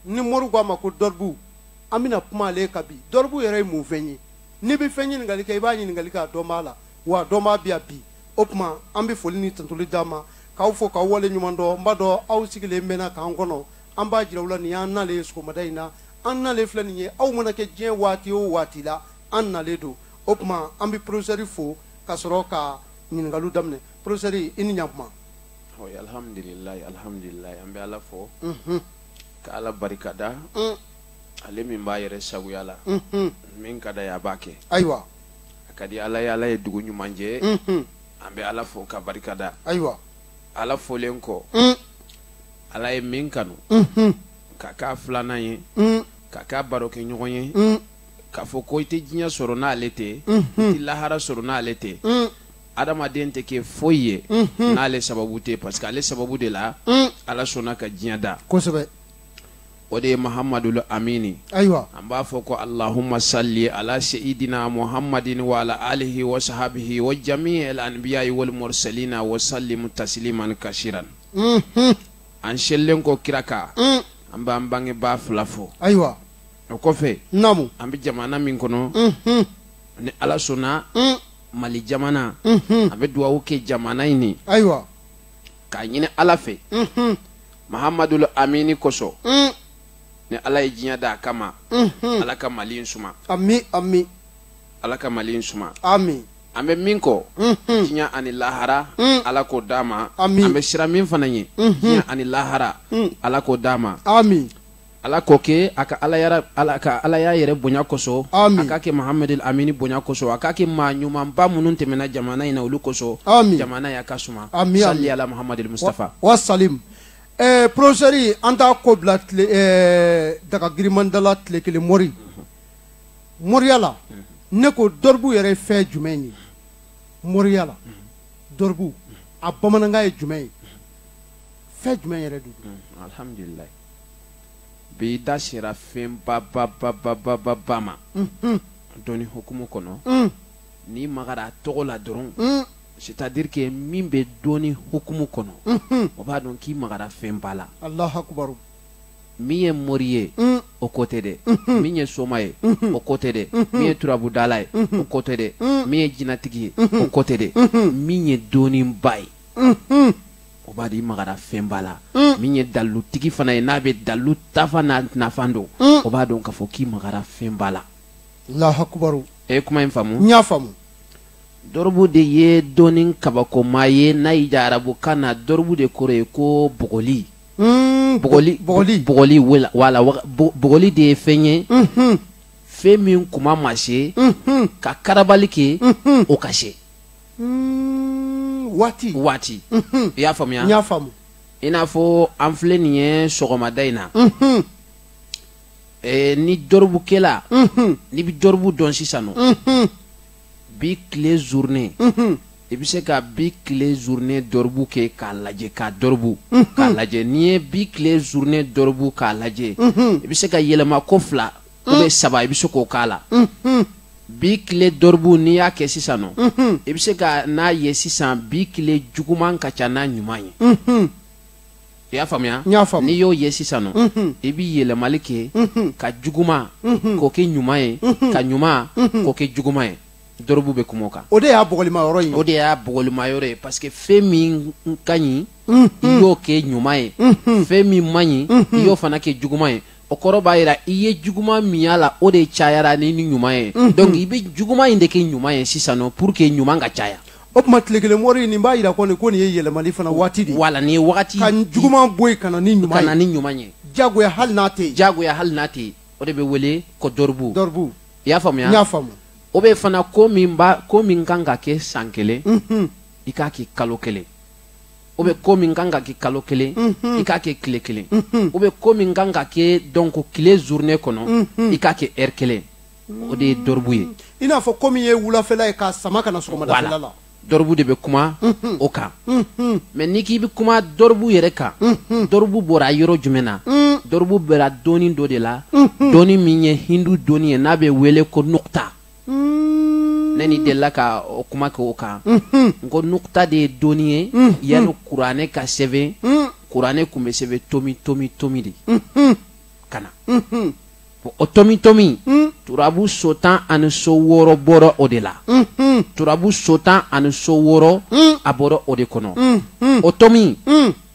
ni mori ko a ma ko dɔribu an bɛna kuma ale kan bi dɔribu yɛrɛ ye mun fɛn ye n'i bɛ fɛn ɲininkali kɛ i b'a ɲininkali kɛ a dɔnbaa la wa a dɔnbaa b'i jaabi o tuma an bɛ foli ni tantoli d'a ma k'aw fo k'aw wale ɲuman dɔn n b'a dɔn aw sigilen mɛnna k'an kɔnɔ an b'a jira aw la nin y'an nalen ye sɔgɔmada in na an nalen filɛ nin ye aw mana kɛ diɲɛ waati o waati la an nalen don o tuma an bɛ porofesɛri fo ka sɔrɔ ka ɲininkaliw daminɛ porofesɛri i ni ɲakuma Alihamdulila alihamdulila an bɛ ala fo ka ala barika da ale min b'a yɛrɛ sagoya la min ka d'a ye a b'a kɛ ayiwa a ka di ala ye ala ye dugu ɲuman jɛ an bɛ ala fo ka barika da ayiwa ala folen kɔ ala ye min kanu k'a k'a filanan ye k'a k'a barokɛɲɔgɔn ye k'a fɔ ko i tɛ diɲɛ sɔrɔ n'ale tɛ i lahara sɔrɔ n'ale tɛ adamaden tɛ kɛ foyi ye n'ale sababu tɛ parce que ale sababu de la ala sɔnna ka diɲɛ da kosɛbɛ o de ye mahamadu amini ayiwa an b'a fɔ ko alahuma sali ala seyidina muhamadin wa ala alihi wa sahabihi wa jami anibiyayi wali murisalina wa salimu tasiliman kasiran an selilen kɔ kira kan an b'an bangebaa fila fo ayiwa o kɔfɛ an bɛ jamana min kɔnɔ ni ala sɔnna mali jamana an bɛ dugawu kɛ jamana in ye ayiwa k'a ɲini ala fɛ mahamadu amini kosɔn mm. ni ala ye diɲɛ da a kama ala ka mali in suma ami ami ala ka mali in suma ami an bɛ min kɔ diɲɛ ani lahara mm. ala k'o d'an ma an bɛ siran min fana ɲɛ diɲɛ ani lahara mm. ala k'o d'a ma ami ala k'o kɛ a ka alaya a ka alaya yɛrɛ bonya kosɔn a k'a kɛ mahamadu amini bonya kosɔn a k'a kɛ maa ɲumanba minnu tɛmɛna jamana in na olu kosɔn jamana y'a ka suma sali ala mahamadu mustafa wa salimu porofesɛri an t' ko bila daga girinman dala tile kelen mori moriya la ne ko dɔribu yɛrɛ fɛn jumɛn ye moriya la dɔribu a bamanankan ye jumɛn ye fɛn jumɛn yɛrɛ don bi i da sera fɛn ba ba ba ba ba ba ba ma dɔnni hukumu kɔnɔ n'i magara a tɔgɔ la dɔrɔn c'est à dire que min bɛ dɔnni hukumu kɔnɔ o b'a dɔn k'i magara fɛn ba la alahu akubaru min ye mori ye o ko tɛ dɛ min ye soma ye o ko tɛ dɛ min ye turabudala ye o ko tɛ dɛ min ye jinatigi ye o ko tɛ dɛ min ye dɔnniba ye o b'a dɔn i magara fɛnba la mm. min ye dalutigi fana ye n'a bɛ dalu tafa n'a nafa dɔn mm. o b'a dɔn k'a fɔ k'i magara fɛnba la lahakubaru e ye kuma in faamu n y'a faamu dɔrɔbu de ye dɔnni kabakoma ye n'a y'i ja arabukan na dɔrɔbu de kɔrɔ ye ko bugɔli mm, bugɔli bugɔli bugɔli wala bugɔli de ye fɛn ye mm-hmm. fɛn min kuma ma se mm-hmm. ka karabali kɛ mm-hmm. o ka se waati waati i y'a faamuya n y'a faamu i n'a fɔ an filɛ nin ye sɔgɔmada in na eh, ni dɔrɔbukɛla n'i bɛ dɔrɔbu dɔn sisan nɔ bi tile journée i bɛ se ka bi tile journée dɔrɔbu kɛ k'a lajɛ k'a dɔrɔbu k'a lajɛ n'i ye bi tile journée dɔrɔbu k'a lajɛ i bɛ se k'a yɛlɛma ko fila ou bien saba i bɛ se k'o k'a la bi tile dɔrɔbu n'i y'a kɛ sisan nɔ i bɛ se ka n'a ye sisan bi tile juguman ka ca n'a ɲuman ye i y'a faamuya n'i y'o ye sisan nɔ i bɛ yɛlɛmali kɛ ka juguman k'o kɛ ɲuman ye ka ɲuman k'o kɛ juguman ye dɔrɔbu bɛ kuma o kan o de y'a bugɔlima yɔrɔ ye o de y'a bugɔlima yɔrɔ ye parce que fɛn min ka ɲi i y'o kɛ ɲuman ye fɛn min man ɲi i y'o fana kɛ juguman ye o kɔrɔ b'a jira i ye juguman min y'a la o de cayara ni ni ɲuman ye mhm. donc i bɛ juguman in de kɛ ɲuman ye sisan nɔ pour que ɲuman ka caya o tuma tile kelen mɔri nin b'a jira ko nin ko nin ye yɛlɛmali fana waati de ye wala nin ye wagati ka juguman bɔ yen ka na ni ɲuman ye ka na ni ɲuman ye jagoya hali n'a tɛ yen jagoya hali n'a tɛ yen o de bɛ wele ko dɔrɔbu dɔrɔbu i y'a faamuya n y'a faamu ou bien fana ko min bɛ ko min kan ka kɛ san kelen mhm. i k'a kɛ kalo kelen ou bien ko min kan ka kɛ kalo kelen i k'a kɛ tile kelen ou bien ko min kan ka kɛ don ko tile journée kɔnɔ i k'a kɛ heure kelen o de ye dɔrɔbu ye i n'a fɔ ko min ye wulafɛla ye k'a sama ka na sɔgɔmadafɛla la dɔrɔbu de bɛ kuma o kan mais n'i k'i bɛ kuma dɔrɔbu yɛrɛ kan dɔrɔbu bɔra yɔrɔ jumɛn na dɔrɔbu bɔra dɔnni dɔ de la dɔnni min ye hindu dɔnni ye n'a bɛ wele ko nukuta ne ni delila ka o kuma kɛ o kan n ko nukuta de ye dɔnni ye yanni kuranɛ ka sɛbɛn kuranɛ tun bɛ sɛbɛn tomi tomi tomi de ka na o tomi tomi turabu so tan ani so wɔɔrɔ bɔra o de la turabu so tan ani so wɔɔrɔ a bɔra o de kɔnɔ o tomi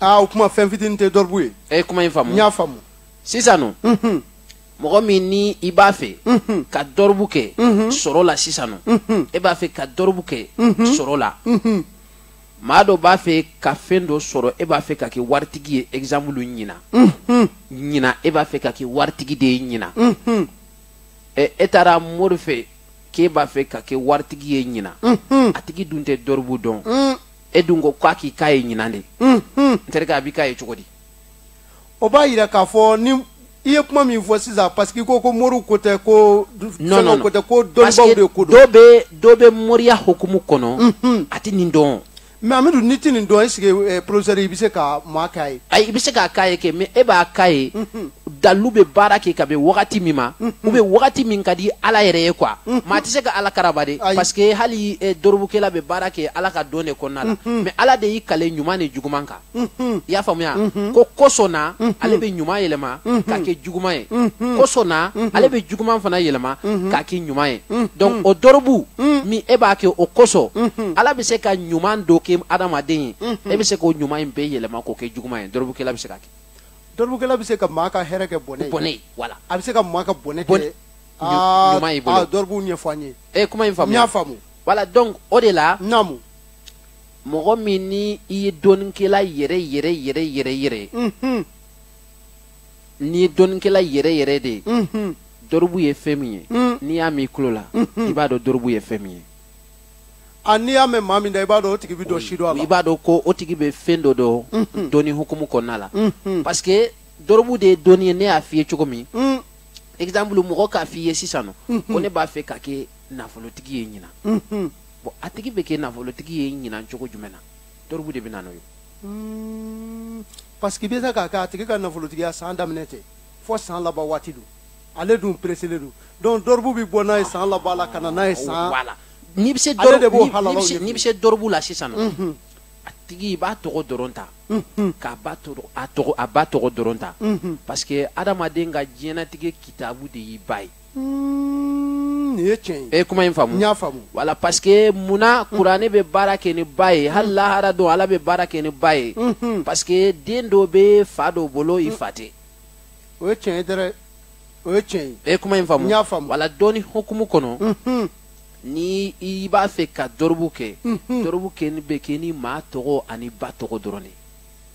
Aa o tuma fɛn fitinin tɛ dɔrɔbu ye e ye kuma in faamu n y'a faamu sisan nɔ mɔgɔ min ni i b'a fɛ ka dɔrɔbu kɛ sɔrɔ la sisan nɔ e b'a fɛ ka dɔrɔbu kɛ sɔrɔ la maa dɔ b'a fɛ ka fɛn dɔ sɔrɔ e b'a fɛ ka kɛ waritigi ye exemple ɲinan ɲinan e b'a fɛ ka kɛ waritigi de ye ɲinan e taara mori fɛ k'e b'a fɛ ka kɛ waritigi ye ɲinan mm-hmm. a tigi dun tɛ dɔribu dɔn mm. e dun ko k'a k'i k'a ye ɲinan de mm-hmm. n terikɛ a b'i k'a ye cogo di o b'a yira k'a fɔ ni i ye kuma min fɔ sisan parce que i ko ko moriw ko tɛ ko fɛnw ko tɛ ko dɔnnibaw de ko don dɔ bɛ dɔ bɛ moriya hukumu kɔnɔ mm-hmm. a tɛ nin dɔn mɛ amidu ni tɛ nin dɔn esike eh, professeur i bɛ se ka maa k'a ye. ayi i bɛ se k'a k'a ye kɛ mɛ e b'a k'a ye. Mhm. dalilu bɛ baara kɛ ka bɛn wagati min ma. Mhm. u bɛ wagati min ka di ala yɛrɛ ye quoi. Mhm. maa tɛ se ka ala karaba de. parce que hali eh, dorobukela bɛ baara kɛ ala ka dɔn de kɔnɔna la. mɛ ala de y'i kali ɲuman ni juguman kan. i y'a faamuya ko kosɔn na ale bɛ ɲuman yɛlɛma k'a kɛ juguman ye kosɔn na ale bɛ juguman fana yɛlɛma k'a kɛ ɲuman ye donc o dɔrɔbu min e b'a kɛ o kosɔn ala bɛ se ka ɲuman dɔ kɛ adamaden ye e bɛ se k'o ɲuman in bɛɛ yɛlɛma k'o kɛ juguman ye dɔrɔbukɛla bɛ se ka kɛ dɔrɔbukɛla bɛ se ka maa ka hɛrɛ kɛ bɔnɛ ye bɔnɛ ye voilà a bɛ se ka maa ka bɔnɛ Bɔnɛ. kɛ aa, ɲuman y'i bolo. aa, dɔrɔbu fɛ e ye kuma in faamu n y'a faamu voilà donc o de la naamu mɔgɔ min ni i ye dɔnnikɛla yɛrɛ yɛrɛ yɛrɛ yɛrɛ yɛrɛ n'i ye dɔnnikɛla yɛrɛ yɛrɛ de ye dɔribu ye fɛn min ye n'i y'a mɛn i tulo la i b'a dɔn dɔribu ye fɛn min ye a n'i y'a mɛn maa min da i b'a dɔn o tigi bɛ dɔ sidɔn a la i b'a dɔn ko o tigi bɛ fɛn dɔ dɔn dɔnni hukumu kɔnɔna la parce que dɔribu de ye dɔnni ye ne y'a f'i ye cogo min exemple mɔgɔ k'a f'i ye sisan nɔ ko ne b'a fɛ ka kɛ nafolotigi ye ɲinan bon a tigi bɛ kɛ nafolotigi ye ɲinan cogo jumɛn na dɔribu de bɛ na n'o ye hmm, parce que a bɛ se ka kɛ a tigi ka nafolotigiya san daminɛ tɛ fo san laban waati don ale dun pereselen don donc dɔribu bɛ bɔ n'a ye san laban la ka na n'a ye san n'i bɛ se n'i bɛ se dɔribu la sisan nɔ mhm. a tigi i b'a tɔgɔ dɔrɔn ta mhm. k'a ba a ba tɔgɔ dɔrɔn ta mhm. parce que adamaden ka diɲɛnatigɛ kitabu de y'i ba ye nin ye tiɲɛ ye. e ye kuma in faamu. n y'a faamu. wala parce que munna kuranɛ bɛ baara kɛ ni ba ye hali lahara don ala bɛ baara kɛ ni ba ye. parce que den dɔ bɛ fa dɔ bolo i fa tɛ. o ye tiɲɛ ye dɛrɛ o ye tiɲɛ ye. e ye kuma in faamu. n y'a faamu. wala dɔnni hukumu kɔnɔ. ni i b'a fɛ ka dɔrɔbu kɛ. dɔrɔbu kɔni bɛ kɛ ni maa tɔgɔ ani ba tɔgɔ dɔrɔn de.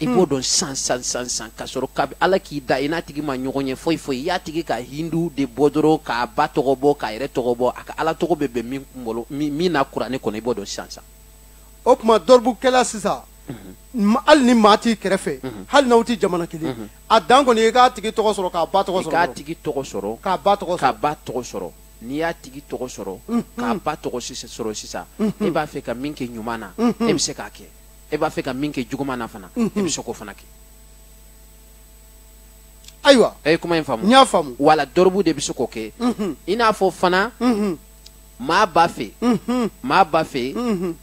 i b'o dɔn san san san san ka sɔrɔ ka ala k'i da i n'a tigi ma ɲɔgɔn ye foyi foyi i y'a tigi ka hindu de bɔ dɔrɔn k'a ba tɔgɔ bɔ k'a yɛrɛ tɔgɔ bɔ a ka ala tɔgɔ bɛ bɛn min kunkolo min na kuranɛ kɔnɔ i b'o dɔn san san o tuma dɔribukɛla sisan hali ni maa t'i kɛrɛfɛ hali n'aw tɛ jamana kelen a dan kɔni i k'a tigi tɔgɔ sɔrɔ k'a ba tɔgɔ sɔrɔ k'a tigi tɔgɔ sɔrɔ k'a ba tɔgɔ k'a ba tɔgɔ sɔrɔ n'i y'a tigi tɔgɔ sɔrɔ k'a ba tɔgɔ sɔrɔ sisan e b'a fɛ ka min kɛ ɲuman na e bɛ se k'a kɛ e b'a fɛ ka min kɛ juguman na fana e bɛ se k'o fana kɛ ayiwa e ye kuma in faamu n y'a faamu wala dɔrɔbu de bɛ se k'o kɛ i n'a fɔ fana maa b'a fɛ maa b'a fɛ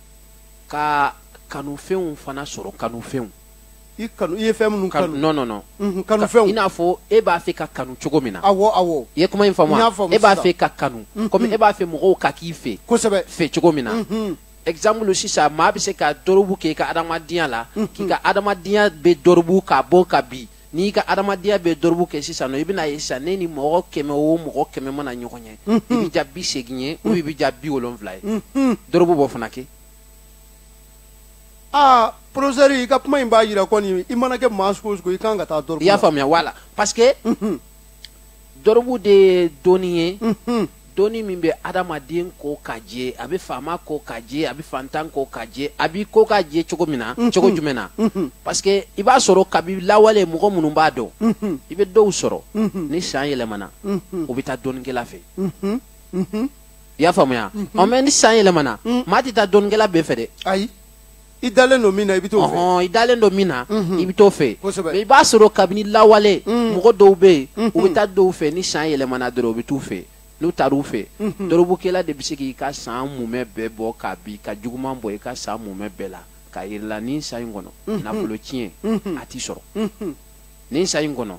ka kanufɛnw fana sɔrɔ kanufɛnw i kanu i ye fɛn minnu kanu non non non kanufɛnw i n'a fɔ e b'a fɛ ka kanu cogo min na awɔ awɔ i ye kuma in faamu e b'a fɛ ka kanu komi e b'a fɛ mɔgɔw ka k'i fɛ kosɛbɛ fɛ cogo min na exemple sisan maa bɛ se ka dɔrɔbu kɛ i ka adamadenya la k'i ka adamadenya bɛɛ dɔrɔbu k'a bɔ k'a bin n'i ka adamadenya bɛɛ dɔrɔbu kɛ sisan non i bɛna ye sisan n'e ni mɔgɔ kɛmɛ o mɔgɔ kɛmɛ mana ɲɔgɔn ye i bɛ diya bi seegin ye ou i bɛ diya bi wolonwula ye dɔrɔbu b'o fana kɛ aa professeur i ka kuma in b'a jira ko ni i mana kɛ maa sugu o sugu i kan ka taa dɔrɔbu la i y'a faamuya wala parce que dɔrɔbu de ye dɔnni ye dɔnni min bɛ adamaden ko ka jɛ a bɛ faama ko ka jɛ a bɛ faantan ko ka jɛ a b'i ko ka jɛ cogo min na cogo jumɛn na parce que i b'a sɔrɔ kabi lawale mɔgɔ minnu b'a dɔn i bɛ dɔw sɔrɔ ni san yɛlɛmana u bɛ taa dɔnnikɛla fɛ i y'a faamuya ɔ mais ni san yɛlɛmana maa tɛ taa dɔnnikɛla bɛɛ fɛ dɛ ayi i dalen don min na i bɛ t'o fɛ ɔhɔn i dalen don min na i bɛ t'o fɛ Kosɛbɛ. mais i b'a sɔrɔ kabini lawale mɔgɔ dɔw bɛ yen u bɛ taa dɔw fɛ ni san yɛlɛmana dɔrɔn u bɛ t'u fɛ n'u taar'u fɛ dɔrɔbukɛla de bɛ se k'i ka san mumɛ bɛɛ bɔ k'a bin ka juguman bɔ i ka san mumɛ bɛɛ la k'a jir'i la nin san in kɔnɔ nafolo tiɲɛ a t'i sɔrɔ nin san in kɔnɔ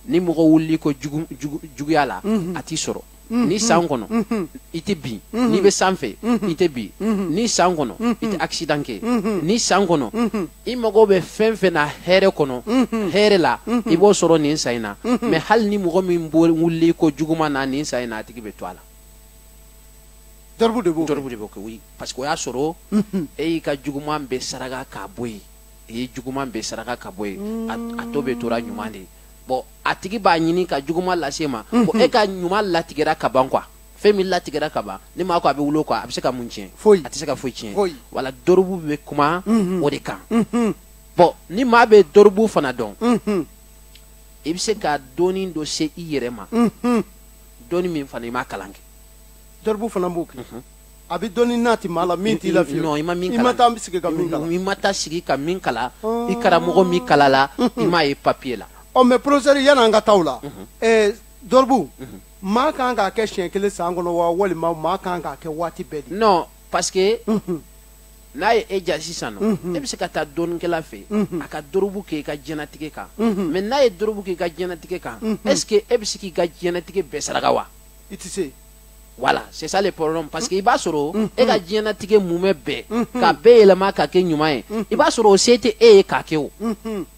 ni mɔgɔ wulil'i kɔ jugu- jugu- juguya la a t'i sɔrɔ nin san kɔnɔ i tɛ bin n'i bɛ sanfɛ i tɛ bin nin san kɔnɔ i tɛ accident kɛ nin san kɔnɔ i mago bɛ fɛn fɛn na hɛrɛ kɔnɔ hɛrɛ la i b'o sɔrɔ nin san in na mais hali ni mɔgɔ min wulila i kɔ juguman na nin san in na a tigi bɛ to a la dɔrɔbu de b'o dɔrɔbu de b'o kɛ oui parce que o y'a sɔrɔ e y'i ka juguman bɛɛ saraka k'a bɔ yen i ye juguman bɛɛ saraka k'a bɔ yen a tɔ bɛɛ tora ɲuman de ye bon a tigi b'a ɲini ka juguman lase i ma ko e ka ɲuman latigɛra ka ban quoi fɛn min latigɛra ka ban ni maa ko a bɛ wuli o kɔ a bɛ se ka mun tiɲɛ foyi a tɛ se ka foyi tiɲɛ foyi wala dɔrɔbu bɛ kuma o de kan bon ni maa bɛ dɔrɔbu fana dɔn i bɛ se ka dɔnni dɔ se i yɛrɛ ma dɔnni min fana i m'a kalan kɛ dɔrɔbu fana b'o kɛ a bɛ dɔnni nati maa la min t'i la fiyewu. non i ma min kalan i ma taa sigi ka min kalan. i ma taa sigi ka min kalan. i karamɔgɔ m'i kalan a la. i m'a ye papiye la. ɔ mais professeur yanni an ka taa o la. ɛɛ dɔrɔbu. maa kan k'a kɛ siɲɛ kelen san kɔnɔ wa walima maa kan k'a kɛ waati bɛɛ de. non parce que. n'a ye e diya sisan non mhm. e bɛ se ka taa dɔnnikɛla fɛ mhm. a ka dɔrɔbu kɛ i ka diɲɛnatigɛ kan mais mhm. n'a ye dɔrɔbu kɛ i ka diɲɛnatigɛ kan est ce que e bɛ se k'i ka diɲɛnatigɛ bɛɛ saraka wa i tɛ se voilà c'est ça le problème parce que i b'a sɔrɔ mm-hmm. e ka diɲɛlatigɛ mumɛ bɛɛ mm-hmm. ka bɛɛ yɛlɛma ka kɛ ɲuman ye mm-hmm. i b'a sɔrɔ o se tɛ e ye ka kɛ o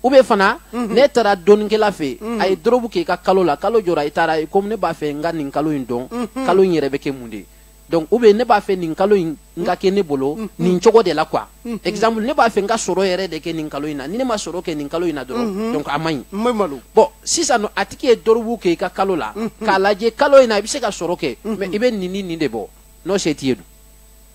ou bien fana ne taara dɔnnikɛla fɛ a ye dɔrɔbu k'i ka kalo la kalo jɔra i taara i ko ne b'a fɛ n ka nin kalo in dɔn kalo in yɛrɛ bɛ kɛ mun de ye donc ou bien ne b'a fɛ nin kalo in n ka kɛ ne bolo mm, mm. nin cogo de la quoi mm, exemple ne b'a fɛ n ka sɔrɔ yɛrɛ de kɛ nin kalo in na ni ne ma sɔrɔ kɛ nin kalo in na dɔrɔn mm-hmm. donc a man ɲi bon sisan nɔ a tigi ye dɔrɔbu kɛ i ka kalo la mm-hmm. k'a lajɛ kalo in na i bɛ se ka sɔrɔ kɛ mm-hmm. mais i bɛ nin ni nin de bɔ n'o se t'i ye dun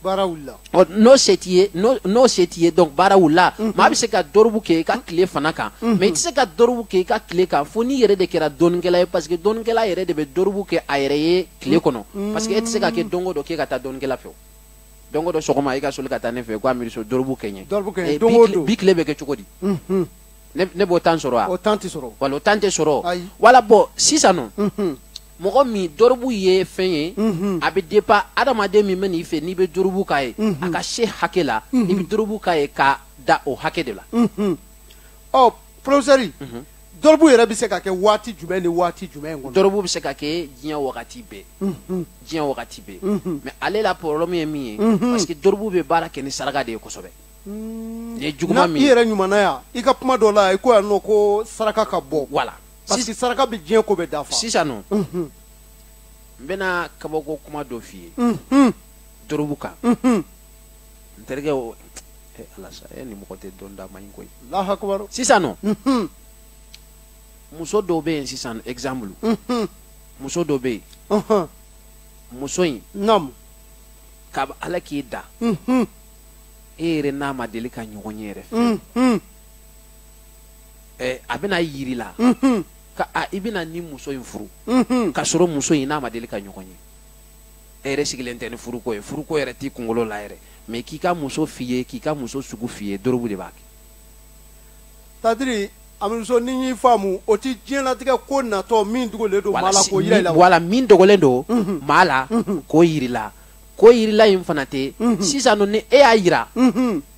baara wulila n'o se t'i ye n'o se t'i ye donc baara wulila maa bɛ se ka dɔrɔbu kɛ i ka tile fana kan mais i tɛ se ka dɔrɔbu kɛ i ka tile kan fo n'i yɛrɛ de kɛra dɔnnikɛla ye parce que dɔnnikɛla yɛrɛ de bɛ dɔrɔbu kɛ a yɛrɛ ye tile kɔnɔ mm. parce que e tɛ se ka kɛ don o don k'e ka taa dɔnnikɛla fɛ o don o don sɔgɔma e ka soli ka taa ne fɛ ko aminu so dɔrɔbu kɛ n ye dɔrɔbu kɛ n ye eh, don o don bi tile bɛ kɛ cogo di mm-hmm. ne b'o temps sɔrɔ wa o temps tɛ sɔrɔ voilà o temps tɛ sɔrɔ voilà bon sisan nɔ mm-hmm. mɔgɔ min dɔrɔbu ye fɛn ye mm-hmm. a bɛ dépend adamaden min bɛ n'i fɛ n'i bɛ dɔrɔbu k'a ye a ka se hakɛ la i bɛ dɔrɔbu k'a ye ka da o hakɛ de la ɔ professeur dɔrɔbu yɛrɛ bɛ se ka kɛ waati jumɛn ni waati jumɛn kɔnɔ. dɔrɔbu bɛ se ka kɛ diɲɛ wagati bɛɛ. Mhm. diɲɛ wagati bɛɛ. Mhm. mais ale la problème ye min ye. Mhm. parce que dɔrɔbu bɛ baara kɛ ni saraka de ye kosɛbɛ. Mm. n'i ye juguman min ye. i yɛrɛ ɲumanna yan i ka kuma dɔ la i ko yan nɔ ko saraka ka bɔ. voilà parce que saraka bɛ diɲɛ ko bɛɛ dafa. sisan nɔ. n bɛna kabako kuma dɔ f'i ye. dɔrɔbu kan. n terikɛ o eh, ala sa e ni mɔgɔ tɛ dɔn da man ɲi koyi alahu akubar sisan nɔ mhm. muso dɔ bɛ yen sisan exemple mhm. muso dɔ bɛ yen mhm. muso in naam ka ala k'i da e yɛrɛ n'a ma deli ka ɲɔgɔn ye yɛrɛ fɛ eh, a bɛna yir'i la ka a i bɛna nin muso in furu k'a sɔrɔ muso in n'a ma deli ka ɲɔgɔn ye e yɛrɛ sigilen tɛ ni furuko ye furuko yɛrɛ t'i kunkolo la yɛrɛ mais k'i ka muso f'i ye k'i ka muso sugu f'i ye dɔrɔbu de b'a kɛ c'est-à-dire aminu so ni n y'i faamu o ti diɲɛlatigɛ ko natɔ min dogolen don maa la k'o yira i la voilà min dogolen don mhm. maa la mhm. k'o yir'i la k'o yir'i la in fana tɛ mhm. sisan ni e y'a yira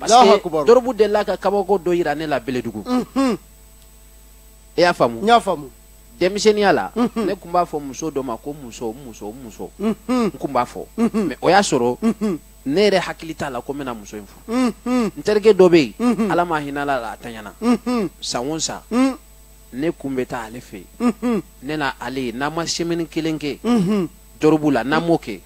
dɔrɔbu delila ka kabako dɔ yira ne la bɛlɛdugu mhm. i y'a faamu n y'a faamu denmisɛnninya la mhm. ne kun b'a fɔ muso dɔ ma ko n muso n muso n muso mhm. n kun b'a fɔ mais o y'a sɔrɔ ne yɛrɛ hakili t'a la ko n bɛna muso in furu n terikɛ dɔ bɛ yen ala ma hinɛla a la a tanyana san o san ne kun bɛ taa ale fɛ yen ne na ale ye n'an ma semaine kelen kɛ dɔrɔbu la n'an m'o kɛ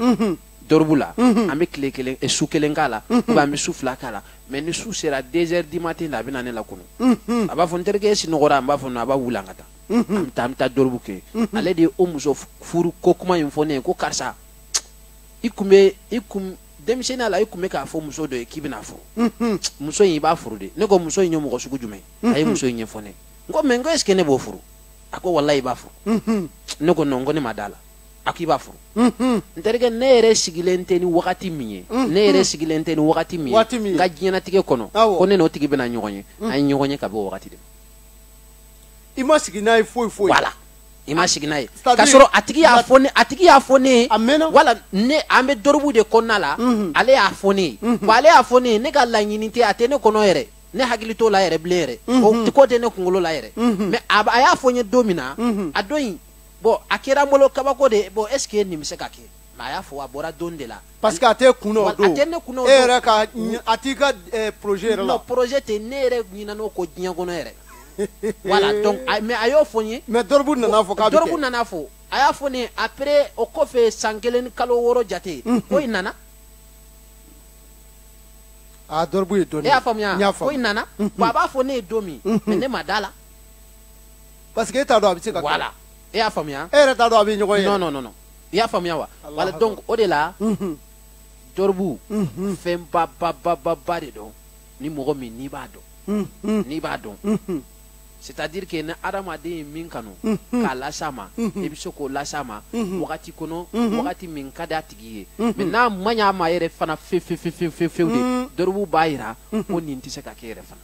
dɔrɔbu la mhm. an bɛ tile kelen eh, su kelen k'a la mhm. an bɛ su fila k'a la mais ni su sera deux heures du matin la a bɛ na ne lakunu mhm. a b'a fɔ n terikɛ e sinɔgɔra n b'a fɔ a b'a wuli an ka taa an bɛ taa an bɛ taa dɔrɔbu kɛ ale de ye o muso furu ko kuma in fɔ ne ye ko karisa i kun bɛ i kun denmisɛnninya la i kun bɛ k'a fɔ muso dɔ ye k'i bɛn'a furu muso in i b'a furu dɛ ne ko muso in ye mɔgɔ sugu jumɛn a ye muso in ɲɛfɔ ne n ko mais n ko est ce que ne b'o furu a ko walayi i b'a furu ne ko non n ko ne ma d'a la a k'i b'a furu n terikɛ ne yɛrɛ sigilen tɛ ni wagati min ye ne yɛrɛ sigilen tɛ ni wagati min ye n ka diɲɛnatigɛ kɔnɔ ko ne n'o tigi bɛna ɲɔgɔn ye an ye ɲɔgɔn ye ka bɛn wagati de ma i ma sigi n'a ye foyi foyi wala i ma sigi n'a ye ka sɔrɔ a tigi y'a fɔ ne a tigi y'a fɔ ne ye a mɛnna wala ne an bɛ dɔrɔbu de kɔnɔna la ale y'a fɔ ne ye wa ale y'a fɔ ne ye ne ka laɲini tɛ a tɛ ne kɔnɔ yɛrɛ ne hakili t'o la yɛrɛ bilen yɛrɛ ko tɛ ne kunkolo la yɛrɛ mais a y'a fɔ n ye don min na a don in bon a kɛra n bolo kabako de ye bon est ce que nin bɛ se ka kɛ mais a y'a fɔ a bɔra don de la parce que a tɛ kun o don a tɛ ne kun o don e yɛrɛ ka a t'i ka eh, projet yɛrɛ la non projet tɛ ne yɛrɛ ɲinɛna o ko diɲɛ kɔnɔ yɛrɛ voilà donc mais a y'o fɔ n ye mais dɔrɔbu nana fɔ k'a bɛ kɛ dɔrɔbu nana fɔ a y'a fɔ ne ye après o kɔfɛ san kelen ni kalo wɔɔrɔ jate ko in nana a dɔrɔbu ye dɔɔnin e y'a faamuya ko in nana bon a b'a fɔ ne ye don min mais ne ma d'a la parce que e t'a dɔn a bɛ se ka voilà e y'a faamuya e yɛrɛ t'a dɔn a bɛ ɲɔgɔn ye non non non non i y'a faamuya wa voilà donc o de la dɔrɔbu fɛn ba ba ba ba ba de don ni mɔgɔ min n'i b'a dɔn n'i b'a dɔn c'est à dire que ni adamaden ye min kanu k'a las'a ma i bɛ se k'o las'a ma wagati kɔnɔ wagati min ka di a tigi ye mais n'a man ɲ'a ma yɛrɛ fana fewu fewu fewu fewu de dɔrɔbu b'a jira ko nin tɛ se ka kɛ yɛrɛ fana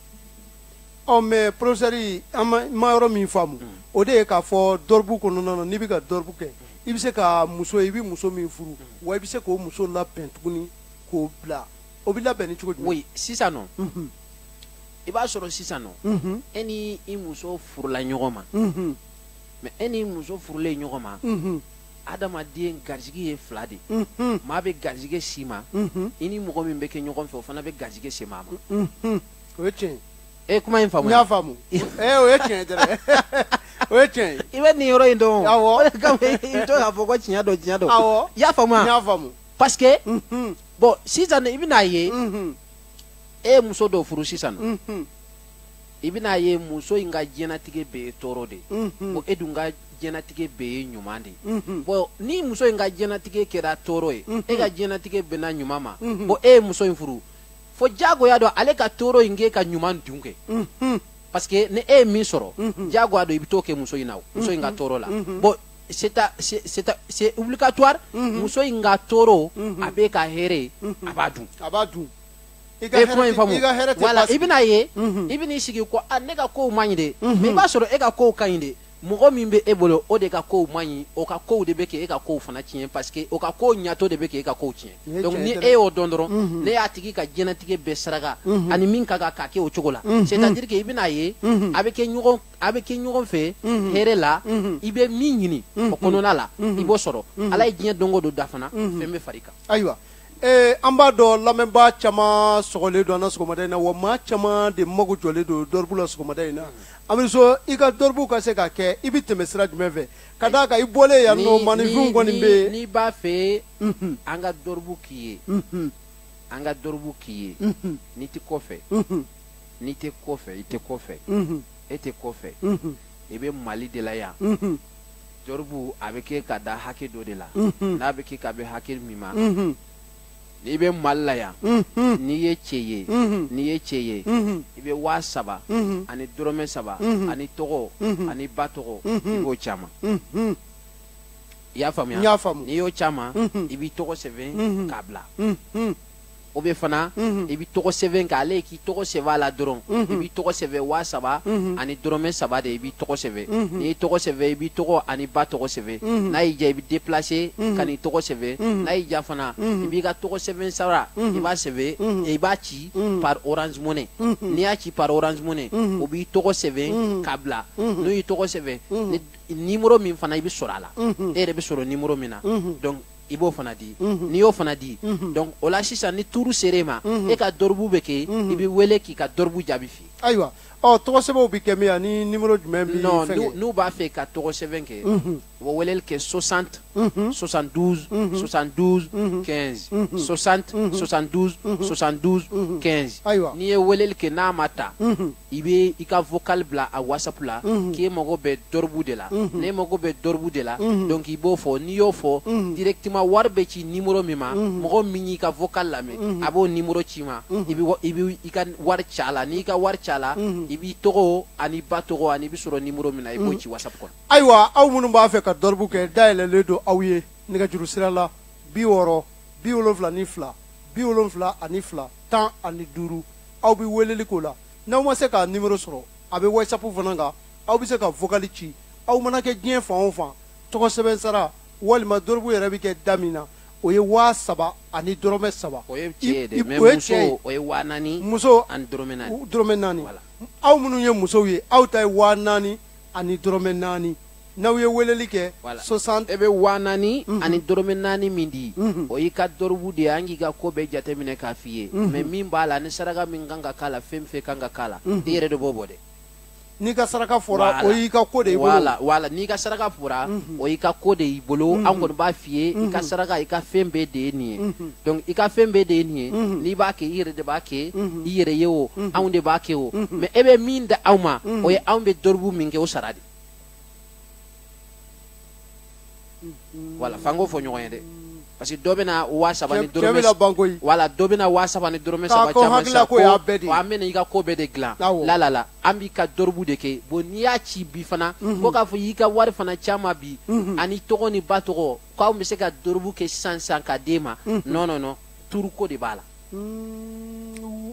Ɔ mais professeur an ma yɔrɔ min faamu o de ye k'a fɔ dɔrɔbu kɔnɔna na n'i bɛ ka dɔrɔbu kɛ i bɛ se ka muso ye i bɛ muso min furu wa i bɛ se k'o muso labɛn tuguni k'o bila o bɛ labɛn ni cogo jumɛn? Oui sisan nɔ i b'a sɔrɔ sisan nɔ e ni i muso furula ɲɔgɔn ma mais e ni muso furulen ɲɔgɔn ma adamaden garisigɛ ye fila de ye maa bɛ garisigɛ s'i ma i ni mɔgɔ min bɛ kɛ ɲɔgɔn fɛ o fana bɛ garisigɛ se maa ma. o ye tiɲɛ ye e kuma in faamu n y'a faamu ee o ye tiɲɛ dɛrɛ o ye tiɲɛ ye i bɛ nin yɔrɔ in dɔn awɔ o de kama i to k'a fɔ ko tiɲɛ don tiɲɛ don awɔ i y'a faamu wa n y'a faamu parce que bon sisan i bɛna a ye e ye muso dɔ furu sisan i bɛna a ye muso in ka diɲɛnatigɛ bɛɛ ye tɔɔrɔ de ko e dun ka diɲɛnatigɛ bɛɛ ye ɲuman de bon ni muso in ka diɲɛnatigɛ kɛra tɔɔrɔ ye e ka diɲɛnatigɛ bɛnna ɲuman ma bon e ye muso in furu fo jagoya don ale ka tɔɔrɔ in k'e ka ɲuman dun kɛ mhm. parce que ni e ye min sɔrɔ mhm. jagoya don i bɛ t'o kɛ muso in na o muso in ka mhm. tɔɔrɔ la bon c'est obligatoire muso in ka tɔɔrɔ a b'e ka hɛrɛ ye a b'a dun a b'a dun i ka kuma in faamu voilà i bɛna ye i bɛna i sigi ko ne ka kow man ɲi de mais i b'a sɔrɔ e ka kow ka ɲi de mɔgɔ min bɛ e bolo o de ka kow man ɲi o ka kow de bɛ kɛ e ka kow fana tiɲɛ parce que o ka kow ɲatɔ de bɛ kɛ e ka kow tiɲɛ donc ni e y'o dɔn dɔrɔn n'e y'a tigi ka diɲɛnatigɛ bɛɛ saraka ani min ka kan k'a kɛ o cogo la c'est à dire que i bɛn'a ye a bɛ kɛ ɲɔgɔn a bɛ kɛ ɲɔgɔn fɛ hɛrɛ la i bɛ min ɲini o kɔnɔna la i b'o sɔrɔ ala ye diɲɛ don o don da fana fɛn bɛ fari kan ayiwa Ee an b'a dɔn lamɛnbaa caman sɔgɔlen don an na sɔgɔmada in na wa maa caman de mago jɔlen don dɔribu la sɔgɔmada in na Amizo i ka dɔribu ka se ka kɛ i bɛ tɛmɛ sira jumɛn fɛ ka d'a kan i bɔlen yan nɔ maaninfinw kɔni bɛ yen n'i b'a fɛ an ka dɔribu k'i ye an ka dɔribu k'i ye n'i tɛ kɔfɛ n'i tɛ kɔfɛ i tɛ kɔfɛ e tɛ kɔfɛ i bɛ Mali de la yan. Dɔribu a bɛ kɛ ka da hakɛ dɔ de la n'a bɛ kɛ ka bɛn hakɛ min ma n'i bɛ Mali la yan n'i ye cɛ ye n'i ye cɛ ye i bɛ waa saba ani dɔrɔmɛ saba an'i tɔgɔ an'i ba tɔgɔ i b'o ci an ma i y'a faamuya i y'a faamuya n'i y'o ci an ma i bɛ tɔgɔ sɛbɛn k'a bila o bɛ fana mhm. i bɛ tɔgɔ sɛbɛn kɛ ale k'i tɔgɔ sɛbɛn a la dɔrɔn mhm. i b'i tɔgɔ sɛbɛn waa saba mhm. ani dɔrɔmɛ saba de i b'i tɔgɔ sɛbɛn n'i y'i tɔgɔ sɛbɛn i b'i tɔgɔ an'i ba tɔgɔ sɛbɛn n'a y'i diya i bɛ déplacer ka n'i tɔgɔ sɛbɛn n'a y'i diya fana i b'i ka tɔgɔ sɛbɛn sara i b'a sɛbɛn i b'a ci par orange money n'i y'a ci par orange money o b'i tɔgɔ sɛbɛn k'a bila n'u y'i tɔgɔ sɛbɛn ni numéro min fana i bɛ sɔrɔ a la e yɛrɛ bɛ sɔrɔ numéro min na donc i b'o fana di n'i y'o fana di donc o la sisan ni tour ser'e ma e ka dɔribu bɛ kɛ i bɛ wele k'i ka dɔribu jaabi f'i ye ayiwa ɔ tɔgɔ sɛbɛnw bɛ kɛ min yan ni nimero jumɛn bɛ non fɛn kɛ n'u b'a fɛ ka tɔgɔ sɛbɛn kɛ u bɛ weleli kɛ 60 72 72 15 60 72 72 15 ayiwa n'i ye weleli kɛ n'a ma ta i bɛ i ka vocal bila a whatsapp la k'e mago bɛ dɔribu de la n'e mago bɛ dɔribu de la donc i b'o fɔ n'i y'o fɔ directement wari bɛ ci numéro min ma mɔgɔ min y'i ka vocal lamɛn a b'o numéro c'i ma i bɛ i bɛ i ka wari ci a la n'i ka wari ci a la i b'i tɔgɔ an'i ba tɔgɔ ani i bɛ sɔrɔ numéro min na i b'o ci whatsapp kɔnɔ. ayiwa aw minnu b'a fɛ ka dɔribu kɛ dayɛlɛlen don aw ye nɛgɛjuru sira la bi wɔɔrɔ bi wolonwula ni fila bi wolonwula ani fila. tan ani duuru aw bɛ weleli k'o la n'aw ma se k'a nimero sɔrɔ a bɛ whatsapp fana kan aw bɛ se ka vokali ci aw mana kɛ diɲɛ fan o fan tɔgɔ sɛbɛn sara walima dorobu yɛrɛ bɛ kɛ da min na o ye waa saba ani dɔrɔmɛ saba o ye cɛ ye dɛ mais o ye cɛ muso ye o ye waa naani muso ani dɔrɔmɛ naani dɔrɔmɛ naani aw minnu ye musow ye aw ta ye waa naani ani dɔrɔmɛ naani n'aw ye weleli kɛ sisan e bɛ waa naani mhm. ani dɔrɔmɛ naani min di mhm. o y'i ka dɔrɔbu de ye an k'i ka ko bɛɛ jateminɛ k'a f'i ye mhm. mais min b'a la ni saraka min kan ka k'a la fɛn fɛn kan ka k'a la i yɛrɛ de b'o bɔ dɛ n'i ka saraka fɔra o y'i ka ko de y'i bolo voilà voilà n'i ka saraka fɔra o y'i ka ko de y'i bolo an kɔni b'a f'i ye i ka saraka i ka fɛn bɛɛ de ye nin ye donc i ka fɛn bɛɛ de ye nin ye n'i b'a kɛ i yɛrɛ de b'a kɛ i yɛrɛ ye o anw de b'a kɛ o mais e bɛ min d'anw ma o ye anw bɛ dɔrɔbu min kɛ o sara de voilà f'an k'o fɔ ɲɔgɔn ye dɛ parce que dɔ bɛna waa saba ni dɔrɔmɛ voilà dɔ bɛna waa saba ni dɔrɔmɛ saba c'an ma sa ko an bɛna i ka ko bɛɛ de dilan la la la an b'i ka dɔrɔbu de kɛ bon n'i y'a ci bi fana ko mhm. k'a fɔ i y'i ka wari fana c'an ma bi mhm. an'i tɔgɔ n'i ba tɔgɔ k'an bɛ se ka dɔrɔbu kɛ sisan sisan ka d'e ma mhm. non non non tuuru ko de b'a la mm.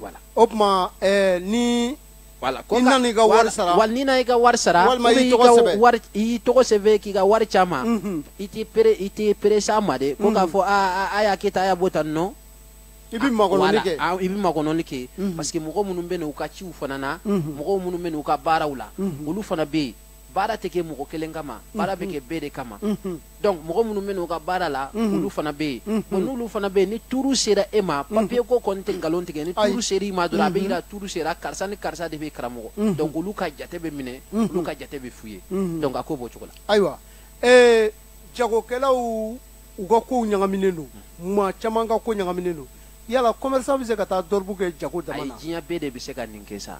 voilà o tuma ɛɛ ni voilà ko i nana i ka wari sara voilà n'i nana i ka wari sara walima i tɔgɔ sɛbɛn wari i tɔgɔ sɛbɛn k'i ka wari c'an ma mhm. i t'i pere i t'i perese a ma dɛ ko k'a mhm. fɔ aa a y'a kɛ tan a y'a bɔ tan non i bɛ makɔnɔni kɛ i bɛ makɔnɔni kɛ mhm. parce que mɔgɔ minnu bɛ na u ka ciw fana na mɔgɔw minnu bɛ na u ka baaraw la olu fana bɛ yen baara tɛ kɛ mɔgɔ kelen kama baara bɛ kɛ bɛɛ de kama donc mɔgɔ minnu bɛ n'u ka baara la olu fana bɛ yen bon n'olu fana bɛ yen ni tuuru sera e ma papiye ko kɔni tɛ nkalon tigɛ ni tuuru sera i ma dɔrɔn a bɛ yira tuuru sera karisa ni karisa de bɛ karamɔgɔ donc olu ka jate bɛ minɛ olu ka jate bɛ f'u ye donc a ko b'o cogo la ayiwa ee jagokɛlaw u ka kow ɲagaminen don maa caman ka ko ɲagaminen don yala commerçant bɛ se ka taa dɔrɔbu kɛ jago dama na ayi diɲɛ bɛɛ de bɛ se ka nin kɛ sa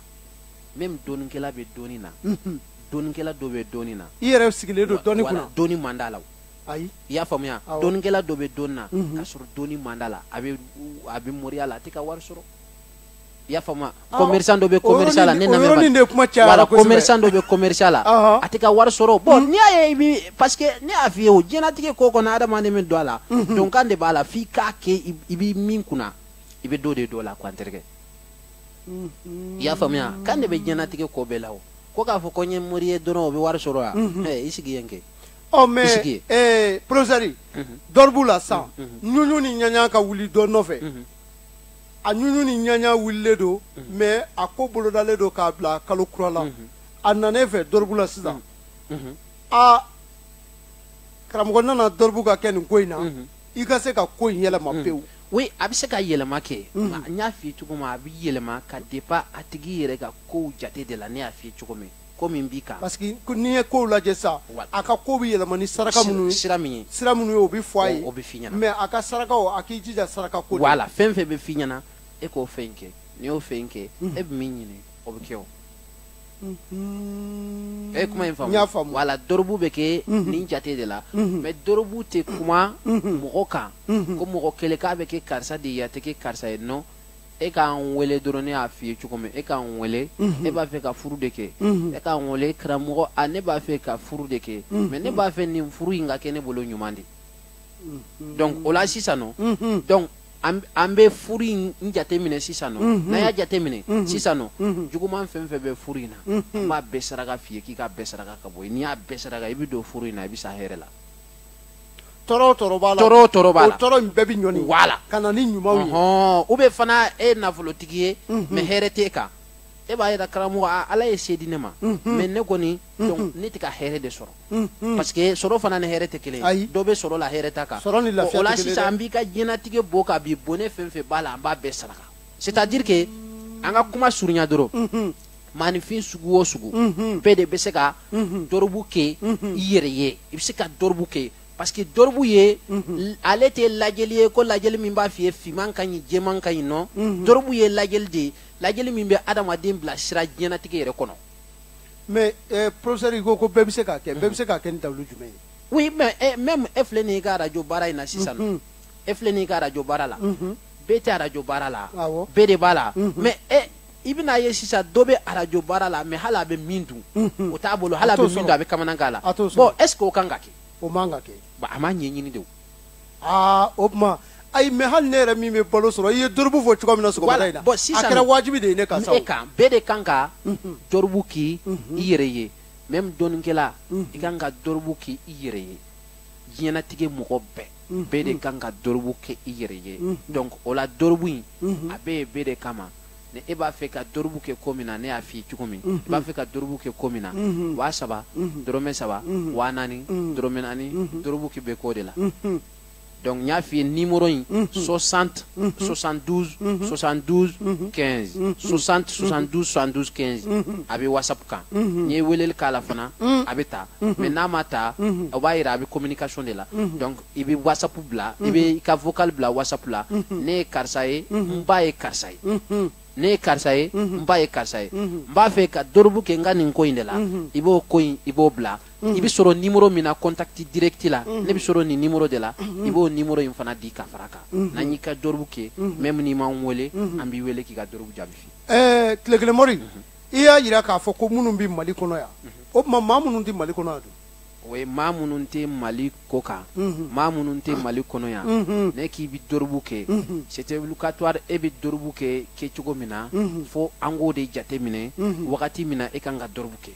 mɛ dɔnikɛla bɛ dɔni na dɔnikɛla dɔ bɛ dɔni na i yɛrɛ sigilen don dɔni kɔnɔ dɔni man d'a la ayi i y'a faamuya dɔnikɛla dɔ bɛ dɔni na k'a sɔrɔ dɔni man d'a la a bɛ a bɛ moriya la a tɛ ka wari sɔrɔ i y'a faamuya commerçant dɔ bɛ commerce la ne lamɛn de kuma cayara kosɛbɛ commerçant dɔ bɛ commerce la a tɛ ka wari sɔrɔ bon n'i y'a ye i bi parce que ne y'a f'i ye o diɲɛlatigɛ ko kɔnɔ adamaden bɛ don a la donkan de b'a la f'i k'a kɛ i b'i min kunna i bɛ dɔ de don a la quoi n terikɛ i y'a faamuya kan de bɛ diɲɛnatigɛ ko bɛɛ la o ko k'a fɔ ko n ye mori ye dɔrɔn o bɛ wari sɔrɔ yan i sigi yen kɛ ɔ mɛ porofesɛri dɔrɔbu la san ɲuɲu ni ɲaɲa ka wuli dɔ nɔfɛ a ɲuɲu ni ɲaɲa wulilen don mɛ a ko bolodalen don k'a bila kalo kura la a nana e fɛ dɔrɔbu la sisan aa karamɔgɔ nana dɔrɔbu ka kɛ nin ko in na i ka se ka ko in yɛlɛma mm. pewu oui a bɛ se ka yɛlɛma kɛ mm. n y'a f'i ye cogo min a bɛ yɛlɛma ka dépend a tigi yɛrɛ ka kow jate de la ne y'a f'i ye cogo min ko min b'i kan parce que n'i ye kow lajɛ sa a ka ko bɛ yɛlɛma ni saraka minnu ye sira min ye sira minnu ye o bɛ fɔ a ye o bɛ f'i ɲɛna mais a ka sarakaw a k'i jija saraka ko voilà fɛn fɛn bɛ f'i ɲɛna e k'o fɛn kɛ n'i y'o fɛn kɛ mm. e bɛ min ɲini o bɛ kɛ o e ye kuma in faamu i y'a faamu wala dɔrɔbu bɛ kɛ nin jate de la mɛ dɔrɔbu tɛ kuma mɔgɔ kan ko mɔgɔ kelen k'a bɛ kɛ karisa de ye a tɛ kɛ karisa ye nɔ e k'an wele dɔrɔn ne y'a f'i ye cogo min e k'an wele ne b'a fɛ ka furu de kɛ e k'an wele karamɔgɔ a ne b'a fɛ ka furu de kɛ mɛ ne b'a fɛ nin furu in ka kɛ ne bolo ɲuman de donc o la sisan nɔ donc an bɛ furu in jate minɛ sisan nɔ n'an y'a jate minɛ sisan nɔ juguman fɛn fɛn bɛ furu in na an b'a bɛɛ saraka f'i ye k'i k'a bɛɛ saraka ka bɔ yen n'i y'a bɛɛ saraka i bɛ don furu in na i bɛ sa hɛrɛ la tɔɔrɔ o tɔɔrɔ b'a la tɔɔrɔ o tɔɔrɔ b'a la o tɔɔrɔ in bɛɛ bɛ ɲɔni wala ka na ni ɲumanw ye ɔhɔn ou bien fana e ye nafolotigi ye mais hɛrɛ t'e kan e b'a yira karamɔgɔ ala ye se di ne ma mais ne kɔni donc ne tɛ ka hɛrɛ de sɔrɔ Mm-hmm. parce que sɔrɔ fana ni hɛrɛ tɛ kelen ye dɔ bɛ sɔrɔ la hɛrɛ t'a kan o la sisan an b'i ka diɲɛnatigɛ bɔ ka b'i bɔnɛ fɛn fɛn b'a la an b'a bɛɛ saraka c'est à dire que an ka kuma surunya dɔrɔn mm-hmm. maaninfin sugu o sugu mm-hmm. bɛɛ de bɛ se ka dɔrɔbu kɛ i yɛrɛ ye i bɛ se ka dɔrɔbu kɛ parce que dɔrɔbu ye ale tɛ lajɛli ye ko lajɛli min b'a f'i ye finman ka ɲi jɛman ka ɲi nɔ dɔrɔbu ye lajɛli de ye lajɛli min bɛ adamaden bila sira diɲɛnatigɛ yɛrɛ kɔnɔ mais eh, professeur i ko ko bɛɛ bɛ se k'a kɛ bɛɛ bɛ se k'a kɛ ni dalilu jumɛn ye oui mais eh, même e filɛ nin y'i ka arajo baara in na sisan nɔ Mhm. e filɛ nin y'i ka arajo baara la Mhm. bɛɛ tɛ arajo baara la Awɔ. bɛɛ de b'a la Mhm. mais e i bɛn'a ye sisan dɔ bɛ arajo baara la mais hali a bɛ min dun Mhm. o t'a bolo A t'o sɔrɔ. hali a bɛ min dun a bɛ kamanagan la A t'o sɔrɔ. bon est ce que o kan ka kɛ o man ka kɛ Ba, a m'a ɲɛɲini de o aa o tuma ayi mais hali ne yɛrɛ min bɛ balo sɔrɔ i ye dorobu fɔ cogoya min na sɔgɔmada in na Bon, sisan a kɛra wajibi de ye ne kan sa o. e kan bɛɛ de kan ka dorobu k'i yɛrɛ ye même dɔnnikɛla i kan ka dorobu k'i yɛrɛ ye diɲɛnatigɛ mɔgɔ bɛɛ bɛɛ de kan ka dorobu kɛ i yɛrɛ ye donc o la dorobu in a bɛ yen bɛɛ de kama ni e b'a fɛ ka dorobu kɛ ko min na ne y'a f'i ye cogo min i b'a fɛ ka dorobu kɛ ko min na waa saba dɔrɔmɛ saba waa naani dɔrɔmɛ naani dorobu kɛ bɛ k'o de la donc n y'a f'i ye nimoro in 60 72 72 15 60 72 72 15 a bɛ whatsapp kan n'i ye weleli k'a la fana a bɛ ta mais n'a ma ta o b'a jira a bɛ communication de la donc i bɛ whatsapp bila i bɛ i ka vocal bila whatsapp la ne ye karisa ye n ba ye karisa ye ne ye karisa ye n ba ye karisa ye n b'a fɛ ka dorobu kɛ n ka nin ko in de la i b'o ko in i b'o bila i bɛ sɔrɔ nimoro min na contact direct la ne bɛ sɔrɔ nin nimoro de la i b'o nimoro in fana di ka fara a kan n'an y'i ka dorobu kɛ même n'i m'an wele an b'i wele k'i ka dorobu jaabi f'i ye. ɛɛ tile kelen mori i y'a jira k'a fɔ ko minnu bɛ mali kɔnɔ yan o tuma maa minnu tɛ mali kɔnɔ yan dun o ye maa minnu tɛ mali kɔ kan maa minnu tɛ mali kɔnɔ yan n'e k'i bɛ dorobu kɛ c'est obligatoire i bɛ dorobu kɛ kɛ cogo min na fo an k'o de jate minɛ wagati min na e kan ka dorobu kɛ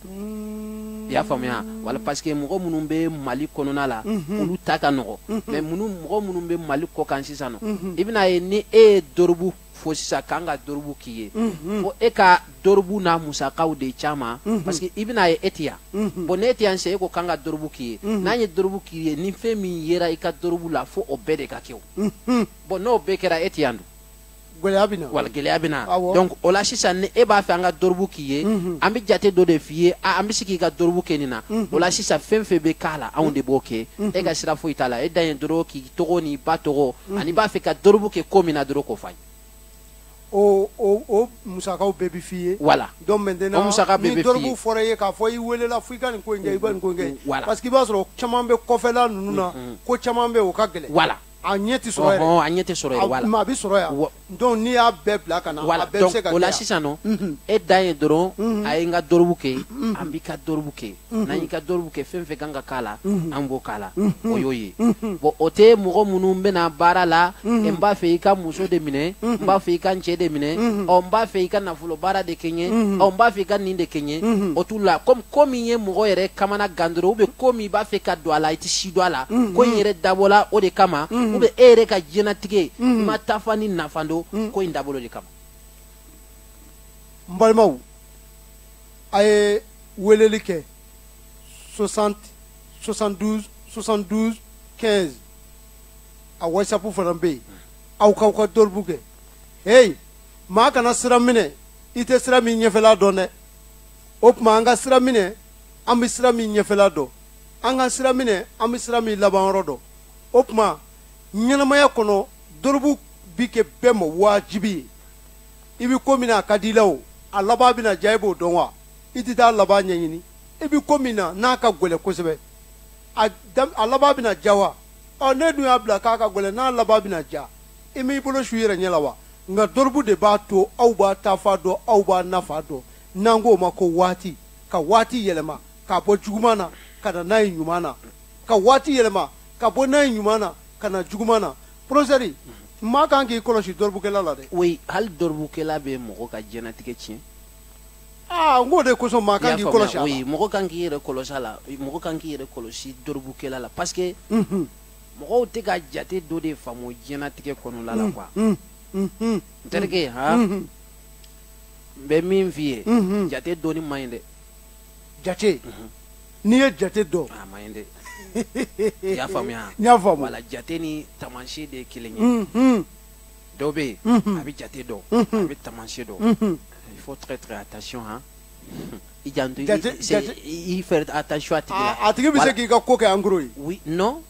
i y'a faamuya voilà parce que mɔgɔ minnu bɛ mali kɔnɔna la olu ta ka nɔgɔ mais mɔgɔ minnu bɛ mali kɔ kan sisan i bɛn'a ye ni e ye dorobu fɔ sisan k'an ka dorobu k'i ye mhm. fo e ka dorobu n'a musakaw de caman mhm. parce que i bɛna ye e tɛ yan mhm. bon n'e tɛ yan sisan e ko k'an ka dorobu k'i ye n'an ye dorobu k'i ye ni fɛn min yera i ka dorobu la fo o bɛɛ de ka kɛ o bon n'o bɛɛ kɛra e tɛ yan dun gɛlɛya bɛ na voilà gɛlɛya bɛ na donc o la sisan ni e b'a fɛ an ka dorobu k'i ye an bɛ jate dɔ de f'i ye a an bɛ se k'i ka dorobu kɛ nin na o la sisan fɛn fɛn bɛ k'a la anw de b'o kɛ e ka sira foyi t'a la e dan ye dɔrɔn k'i tɔgɔ n'i ba tɔgɔ mm. an'i b'a fɛ ka dorobu kɛ ko min na dɔrɔn k'o f'an ye o musakaw bɛɛ bɛ f'i ye. voilà donc maintenant o musaka bɛɛ bɛ f'i ye ni dorobu fɔra i ye k'a fɔ i welela fo i ka nin ko in kɛ i ka nin ko in kɛ. voilà parce que i b'a sɔrɔ caman bɛ kɔfɛla ninnu na. ko caman bɛ yen o ka gɛlɛn. voilà a ɲɛ tɛ sɔrɔ yɛrɛ. ɔhɔn a ɲɛ tɛ sɔrɔ yɛrɛ voilà. mais a bɛ sɔrɔ yan. donc n'i y'a bɛɛ bila ka na voilà. a bɛɛ bɛ se ka kɛ o la sisan nɔ e dan ye dɔrɔn a ye n ka dorobu kɛ an b'i ka dorobu kɛ n'an y'i ka dorobu kɛ fɛn fɛn kan ka k'a la an b'o k'a la o y'o ye bon o tɛ mɔgɔ minnu bɛ na baara la n b'a fɛ i ka muso de minɛ n b'a fɛ i ka n cɛ de minɛ ɔ n b'a fɛ i ka nafolo baara de kɛ n ye ɔ n b'a fɛ i ka nin de kɛ n ye o t'u la comme ko min ye mɔgɔ yɛrɛ kamana gan dɔrɔn ou bien ko min i b'a fɛ ka don a la i tɛ si don a la mm-hmm. ko in yɛrɛ dabɔla o de kama mm-hmm. ou bien e yɛrɛ ka diɲɛnatigɛ i mm-hmm. ma taafan ni nafan dɔn ko in dabɔla o de kama n balimaw a ye weleli kɛ 60 72 72 15 a whatsapp fana bɛ yen aw k'aw ka dɔribu kɛ heyi maa kana sira minɛ i tɛ sira min ɲɛfɛla dɔn dɛ o tuma an ka sira minɛ an bɛ sira min ɲɛfɛla dɔn an ka sira minɛ an bɛ sira min labanyɔrɔ dɔn o tuma ɲɛnamaya kɔnɔ dorobu bi kɛ bɛɛ ma wajibi ye i bɛ ko min na a ka di i la o a laban bɛna diya i b'o dɔn wa i tɛ taa laban ɲɛɲini i bɛ ko min na n'a ka gɛlɛn kosɛbɛ a dam- a laban bɛna diya wa ɔ ne dun y'a bila k'a ka gɛlɛn n'a laban bɛna diya i m'i bolo su i yɛrɛ ɲɛ la wa nka dorobu de b'a to aw b'a taafan dɔn aw b'a nafan dɔn n'an k'o ma ko waati ka waati yɛlɛma k'a bɔ juguman na ka na n'a ye ɲuman na ka waati yɛlɛma ka bɔ n'a ye ɲuman na ka na juguman na professeur maa kan k'i kɔlɔsi dɔribukɛla la dɛ oui hali dɔribukɛla bɛ mɔgɔ ka diɲɛnatigɛ tiɲɛ aa n k'o de kosɔn maa kan k'i kɔlɔsi a la oui mɔgɔ kan k'i yɛrɛ kɔlɔsi a la mɔgɔ kan k'i yɛrɛ kɔlɔsi dɔribukɛla la parce que mɔgɔw tɛ ka jate dɔ de faamu diɲɛnatigɛ kɔnɔna la quoi n terikɛ han n bɛ min f'i ye mhm. jate dɔnni man ɲi dɛ jate mhm. n'i ye jate dɔn a man ɲi dɛ i y'a faamuya n y'a faamu voilà jate ni taamasiyɛn de ye kelen ye mhm. dɔ bɛ yen a bɛ jate dɔn a bɛ taamasiyɛn dɔn il faut très très attention hein i janto i faire attention a tigi la a tigi bɛ se k'i ka ko kɛ en gros ye oui non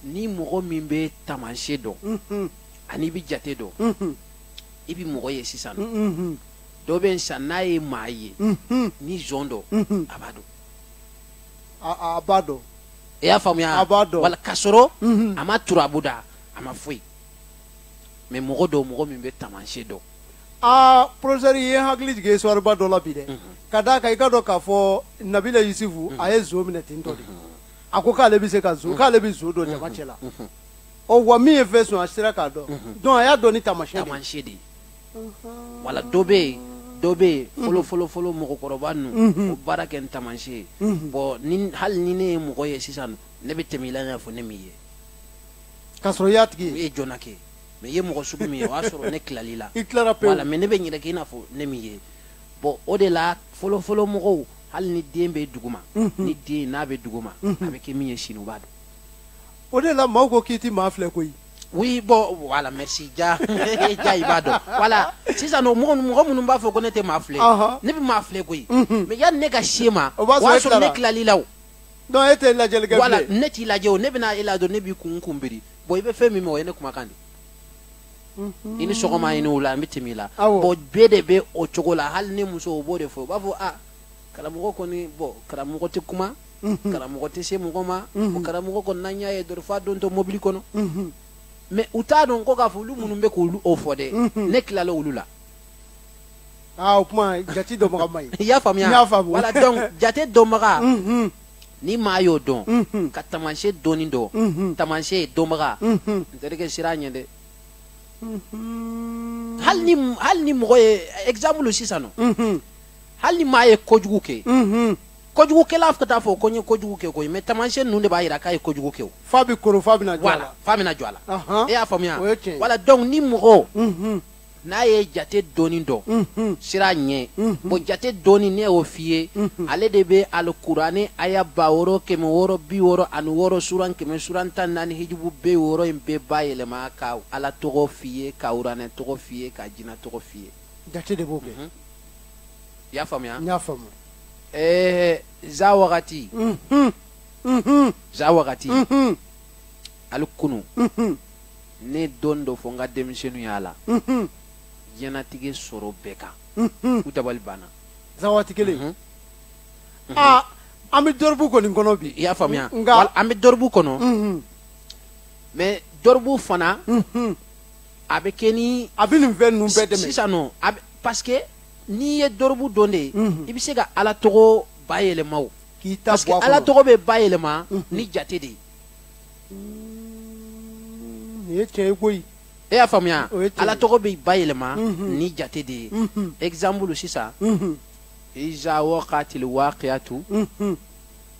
ni mɔgɔ min bɛ taamasiyɛn dɔn ani i bɛ jate dɔn i bɛ mɔgɔ ye sisan dɔ bɛ san n'a ye maa ye ni zon don a b'a dɔn a b'a dɔn i y'a faamuya a b'a dɔn voilà ka sɔrɔ a ma turabu da a ma foyi mais mɔgɔ dɔ mɔgɔ min bɛ taamasiyɛn dɔn aa professeur ye hakili jigin histoire ba dɔ la bi dɛ ka d'a kan i k'a dɔn k'a fɔ nabila yusufu a ye zon minɛ ten tɔ de a ko k'ale bɛ se ka k'ale bɛ zon dɔn jama cɛ la ɔ wa min ye fɛn sonya a sera k'a dɔn donc a y'a dɔn ni taamasiyɛn de ye taamasiyɛn de ye voilà dɔ bɛ yen dɔ bɛ yen fɔlɔ fɔlɔ fɔlɔ mɔgɔkɔrɔba ninnu o baara kɛ ni taamasiyɛn ye bon ni hali ni ne ye mɔgɔ ye sisan ne bɛ tɛmɛ i la i n'a fɔ ne m'i ye k'a sɔrɔ i y'a tigi ye i ye joona kɛ mais i ye mɔgɔ sugu min ye o y'a sɔrɔ ne tilala i la i tilara pewu voilà mais ne bɛ n yɛrɛ kɛ i n'a fɔ ne m'i ye bon o de la fɔlɔ fɔlɔ mɔgɔw hali ni den bɛ duguma ni den n'a bɛ duguma a bɛ kɛ min ye sini u b'a dɔn o de la maaw ko k'i ti maa filɛ koyi oui bon voilà merci ja ja i b'a dɔn voilà sisan nɔ mɔgɔ mɔgɔ minnu b'a fɔ ko ne tɛ maa filɛ Ɔhɔ. ne bɛ maa filɛ koyi Mhm. mais yanni ne ka se e ma o b'a sɔrɔ ne tilala i la o non e tɛ lajɛli kɛ voilà bilen ne t'i lajɛ o ne bɛna e la dɔn ne b'i kun kun biri bon i bɛ fɛn min ma o ye ne kumakan de ye. i ni sɔgɔma i ni wula an bɛ tɛmɛ i la Awɔ. bon bɛɛ de bɛ o cogo la hali ne musow b'o de fɔ u b'a fɔ a karamɔgɔ kɔni bon karamɔgɔ tɛ kuma mhm. karamɔgɔ tɛ se mɔgɔ ma mhm. o karamɔgɔ kɔni n'an y'a ye dɔrɔn f'a dontɔ mobili kɔnɔ mhm. mais u t'a dɔn ko k'a fɔ olu minnu bɛ k'o fɔ dɛ ne tilala olu la aa ah, o kuma jate dɔnbaga ma ye i y'a faamuya y'a faamu voilà donc jate dɔnbaga ni maa y'o dɔn ka tamasiyɛn dɔɔni dɔn tamasiyɛn dɔnbaga n terikɛ siran a ɲɛ dɛ hali ni mɔgɔ ye exemple sisan nɔ hali ni maa ye kojugu kɛ kojugukɛla o t'a fɔ ko n ye kojugu kɛ koyi mais tamasiyɛn ninnu de b'a jira k'a ye kojugu kɛ o f'a bɛ koron f'a bɛna jɔ a voilà la f'a bɛna jɔ a la Ahan. e y'a faamuya O ye tiɲɛ ye. voilà donc ni mɔgɔ Unhun, n'a ye jate dɔɔni dɔn unhun. siran a ɲɛ Unhun. bon jate dɔɔni ne y'o f'i ye Unhun. ale de bɛ alikuranɛ aya ba wɔɔrɔ kɛmɛ wɔɔrɔ bi wɔɔrɔ ani wɔɔrɔ suran kɛmɛ suran tan naani hijibu bi wɔɔrɔ in bɛɛ bayɛlɛma ka ala tɔgɔ f'i ye ka uranɛ tɔgɔ f'i ye ka jina tɔgɔ f'i ye jate de b'o kɛ i y'a faamuya n y'a faamu eh za wagati mhm mhm za wagati mhm hali kunu mhm ne ye don dɔ fɔ n ka denmisɛnninw y'a la mhm diɲɛnatigɛ sɔrɔ bɛɛ kan mhm u dabali b'a na za waati kelen Mhm. aa an bɛ dorobu kɔni kɔnɔ bi i y'a faamuya nka Wal- an bɛ dorobu kɔnɔ mhm mais dorobu fana mhm a bɛ kɛ ni a bɛ nin fɛn ninnu bɛɛ dɛmɛ sisan nɔ a bɛ parce que n'i ye dorobu dɔn dɛ i bɛ se ka ala tɔgɔ bayɛlɛma o k'i ta parce que bɔ a ala kɔnɔ tɔgɔ bɛ bayɛlɛma ni jate de ye nin ye tiɲɛ ye koyi e y'a faamuya O ye tiɲɛ ye. ala tɔgɔ bɛ bayɛlɛma Mhm. ni jate de ye Mhm. exemple sisan Mhm. iza waqatil waqiyatu Mhm.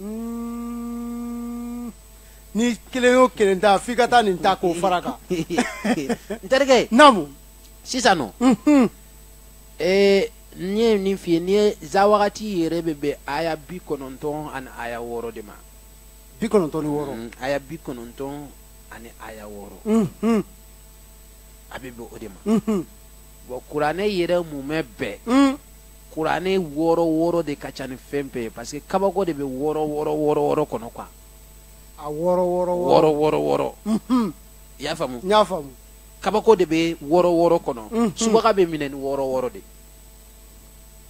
Hmm. ni kelen y'o kelen ta f'i ka taa nin ta k'o fara kan n terikɛ naamu sisan nɔ mhm. ee n ye nin f'i ye n'i ye za wagati yɛrɛ bɛ bɛn aya bi kɔnɔntɔn ani aya wɔɔrɔ de ma bi kɔnɔntɔn ni wɔɔrɔ hmm, aya bi kɔnɔntɔn ani aya wɔɔrɔ mhm. a bɛ bɛn o de ma mhm. bon kuranɛ yɛrɛ mumɛ bɛɛ hmm. kuranɛ wɔɔrɔ wɔɔrɔ de ka ca ni fɛn bɛɛ ye parce que kabako de bɛ wɔɔrɔ wɔɔrɔ wɔɔrɔ wɔɔrɔ kɔnɔ quoi a wɔɔrɔ wɔɔrɔ wɔɔrɔ wɔɔrɔ wɔɔrɔ mhm. i y'a faamu n y'a faamu kabako de bɛ wɔɔrɔ wɔɔrɔ kɔnɔ mhm. subaga bɛ minɛ ni wɔɔrɔ wɔɔrɔ de ye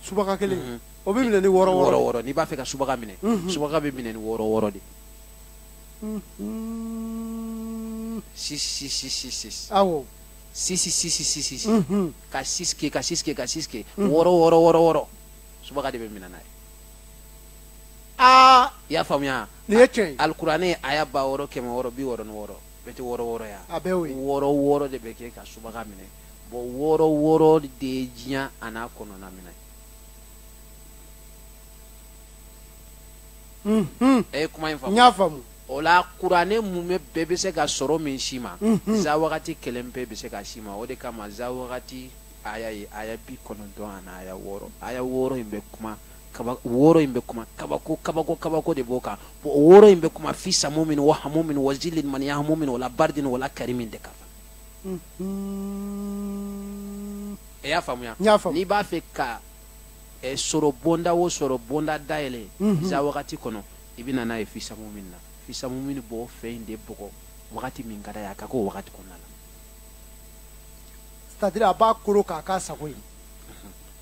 subaga kelen mhm. o bɛ minɛ ni wɔɔrɔ wɔɔrɔ wɔɔrɔ n'i b'a fɛ ka subaga minɛ subaga bɛ minɛ ni wɔɔrɔ wɔɔrɔ de ye six six six six awɔ six six six six Mhm. ka six kɛ ka six kɛ ka six kɛ Mhm. wɔɔrɔ wɔɔrɔ wɔɔrɔ wɔɔrɔ subaga de bɛ minɛ n'a ye aa i y'a faamuya Nin ye tiɲɛ ye. alikuranɛ aya ba wɔɔrɔ kɛmɛ wɔɔrɔ bi wɔɔrɔ ni wɔɔrɔ bɛɛ tɛ wɔɔrɔ wɔɔrɔ ya A bɛɛ y'o ye. wɔɔrɔ wɔɔrɔ de bɛ kɛ ka subaga minɛ bɔn wɔɔrɔ wɔɔrɔ de ye diɲɛ an'a kɔnɔna minɛ Mhm. ɛ kuma in faamu n y'a faamu o la kuranɛ mumɛ bɛɛ bɛ se ka sɔrɔ min si ma mhm. za wagati kelen bɛɛ bɛ se ka si ma o de kama za wagati aya ye aya bi kɔnɔntɔn ani aya wɔɔrɔ aya wɔɔrɔ in bɛ kuma kaba wɔɔrɔ in bɛ kuma kabako kabako kabako de b'o kan bon o wɔɔrɔ in bɛ kuma fi samumin wa hamumin wa zili min yahamumin wala baridin wala karimin de ka fa e y'a faamuya n'i b'a fɛ ka eh, sɔrɔ bonda o sɔrɔ bonda dayɛlɛ mhm. za wagati kɔnɔ i bɛ na n'a ye fi samumin na fi samumin b'o fɛn in de bɔgɔ wagati min ka d'a ye a ka k'o wagati kɔnɔna la c'est à dire a b'a koro k'a k'a sago ye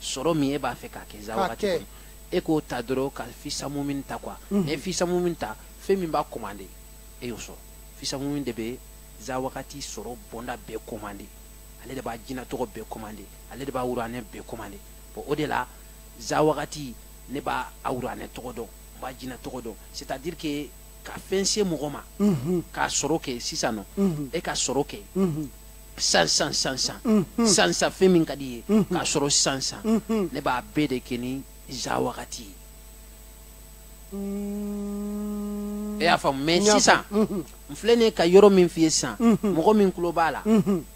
sɔrɔ min e b'a fɛ k'a kɛ za wagati kɔnɔ e k'o ta dɔrɔn ka fi samumin ta quoi n'i mhm. ye fi samumin ta fɛn min b'a commandé e y'o sɔrɔ fi samumin de bɛ za wagati sɔrɔ bonda bɛɛ commandé ale de b'a jinɛ tɔgɔ bɛɛ commandé ale de b'a wuranɛ bɛɛ commandé bon o de la za wagati ne b'a wuranɛ tɔgɔ dɔn b'a jina tɔgɔ dɔn c'est à dire que ka fɛn se mɔgɔ ma k'a sɔrɔ kɛ sisan non e ka sɔrɔ kɛ san san san san san san fɛn min ka di ye k'a sɔrɔ san san ne b'a bɛɛ de kɛ ni za wagati ye e y'a faamu mais sisan n filɛ ne ka yɔrɔ min f'i ye sisan mɔgɔ min tulo b'a la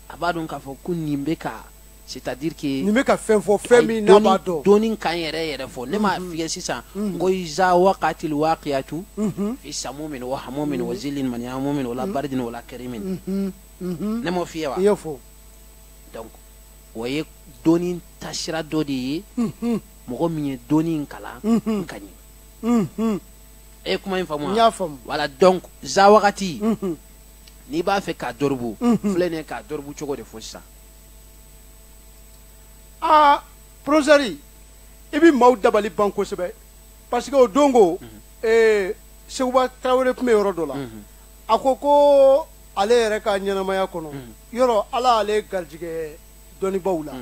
a b'a dɔn k'a fɔ ko nin bɛ ka c'est à dire que nin bɛ ka fɛn fɔ fɛn min n'a b'a dɔn dɔnni kan yɛrɛ yɛrɛ fɔ ne m'a mhm. f'i ye sisan mhm. n ko iza waqatil waqiyatu mhm. fi samumin wa hamumin wa zilin man yamumin wala baridin wala karimin ne m'o f'i ye wa i y'o fɔ donc o ye dɔnni tasira dɔ de ye mɔgɔ min ye dɔnni in kalan ka ɲɛ e ye kuma in faamu wa n y'a faamu voilà donc za wagati n'i b'a fɛ k'a dɔribu filɛ nin ye k'a dɔribu cogo de fɔ sisan aa porofesɛri i bɛ maaw dabali ban kosɛbɛ parce que o don ko mhm. eh, sekuba tarawele tun bɛ yɔrɔ dɔ la mhm. a ko ko ale yɛrɛ ka ɲɛnamaya kɔnɔ mhm. yɔrɔ ala y'ale garijɛgɛ dɔnnibaaw la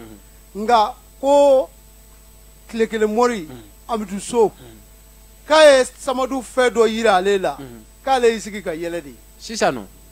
nka ko tile kelen mɔri amidu so k'a ye samadu fɛn dɔ jira ale la k'ale y'i sigi ka yɛlɛ de sisan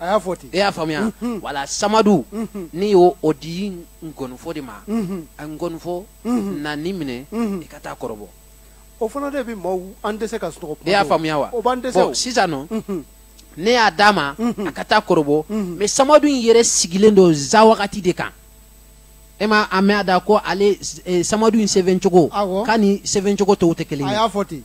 a y'a fɔ ten e y'a faamuya voilà samadu ne y'o o di nkɔnifɔ de ma a nkɔnifɔ na nin minɛ i ka taa a kɔrɔbɔ o fana de bɛ maaw an tɛ se ka sunɔgɔ e y'a faamuya wa o b'an dɛsɛ o sisan nɔ ne y'a d'a ma a ka taa a kɔrɔbɔ mais samadu in yɛrɛ sigilen don za wagati de kan e ma a mɛn a da ko ale samadu in sɛbɛn cogo k'a ni sɛbɛn cogo tɔw tɛ kelen ye a y'a fɔ ten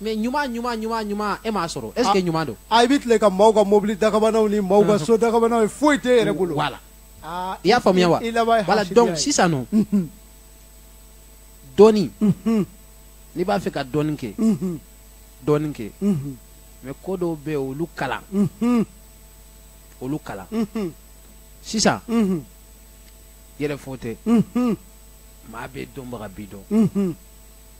mais ɲuman ɲuman ɲuman ɲuman e m'a sɔrɔ est ce que ɲuman don a i bɛ tile ka maaw ka mobili dakabanaw ni maaw ka so dakabanaw ye foyi t'i yɛrɛ bolo voilà i y'a faamuya wa voilà donc sisan nɔ dɔɔni n'i b'a fɛ ka dɔɔni kɛ dɔɔni kɛ mais ko dɔw bɛ yen olu kalan olu kalan sisan yɛrɛfɔ tɛ maa bɛɛ dɔnbaga b'i dɔn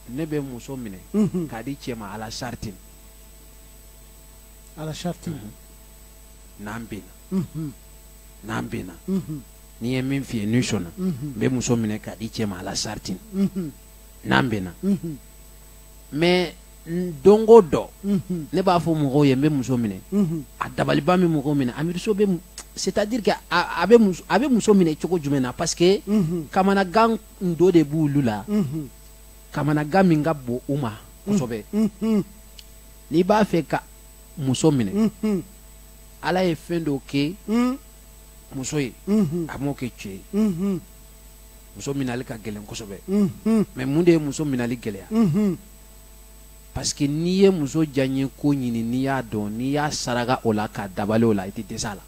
ne bɛ muso minɛ mhm. k'a di cɛ ma ala saritin ala saritin mhm. n'an bɛnna mhm. n'an bɛnna ni n ye min f'i ye n'i sɔnna n bɛ muso minɛ k'a di cɛ ma ala saritin n'an bɛnna mais don o don ne b'a fɔ mɔgɔw ye n bɛ muso minɛ a dabaliban min mɔgɔw minɛ a miiri sɔbɛ c'est-à-dire que a bɛ muso minɛ cogo jumɛn na parce que kamanagan n dɔ de b'olu la kamanagan min ka bon u ma kosɛbɛ n'i b'a fɛ ka muso minɛ ala ye fɛn dɔw kɛ muso ye a m'o kɛ cɛ ye muso minali ka gɛlɛn kosɛbɛ mais mun de ye muso minali gɛlɛya parce que n'i ye muso diyaɲe ko ɲini n'i y'a dɔn n'i y'a saraka o la k'a dabali o la i tɛ dɛsɛ a la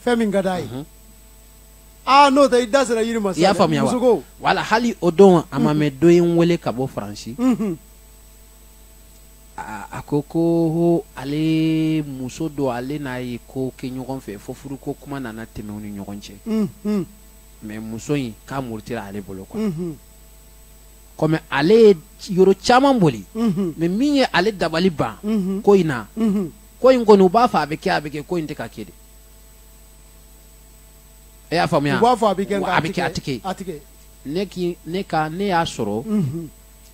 fɛn min ka d'a ye aa n'o tɛ i da sera a yɛrɛ ma sa i y'a faamuya wa musoko voilà hali o don a ma mɛn dɔ ye n wele ka bɔ faransi unhun a a ko ko ho ale muso dɔ ale n'a ye ko kɛ ɲɔgɔn fɛ fo furuko kuma nana tɛmɛ u ni ɲɔgɔn cɛ unhun mais muso in k'a murutira ale bolo quoi unhun kɔmi ale ye yɔrɔ caman boli unhun mais min ye ale dabali ban unhun ko in na unhun ko in kɔni u b'a fɔ a bɛ kɛ a bɛ kɛ ko in tɛ ka kɛ dɛ e y'a faamuya u b'a fɔ a bɛ kɛ a bɛ kɛ a tigi a tigi ne k'i ne ka ne y'a sɔrɔ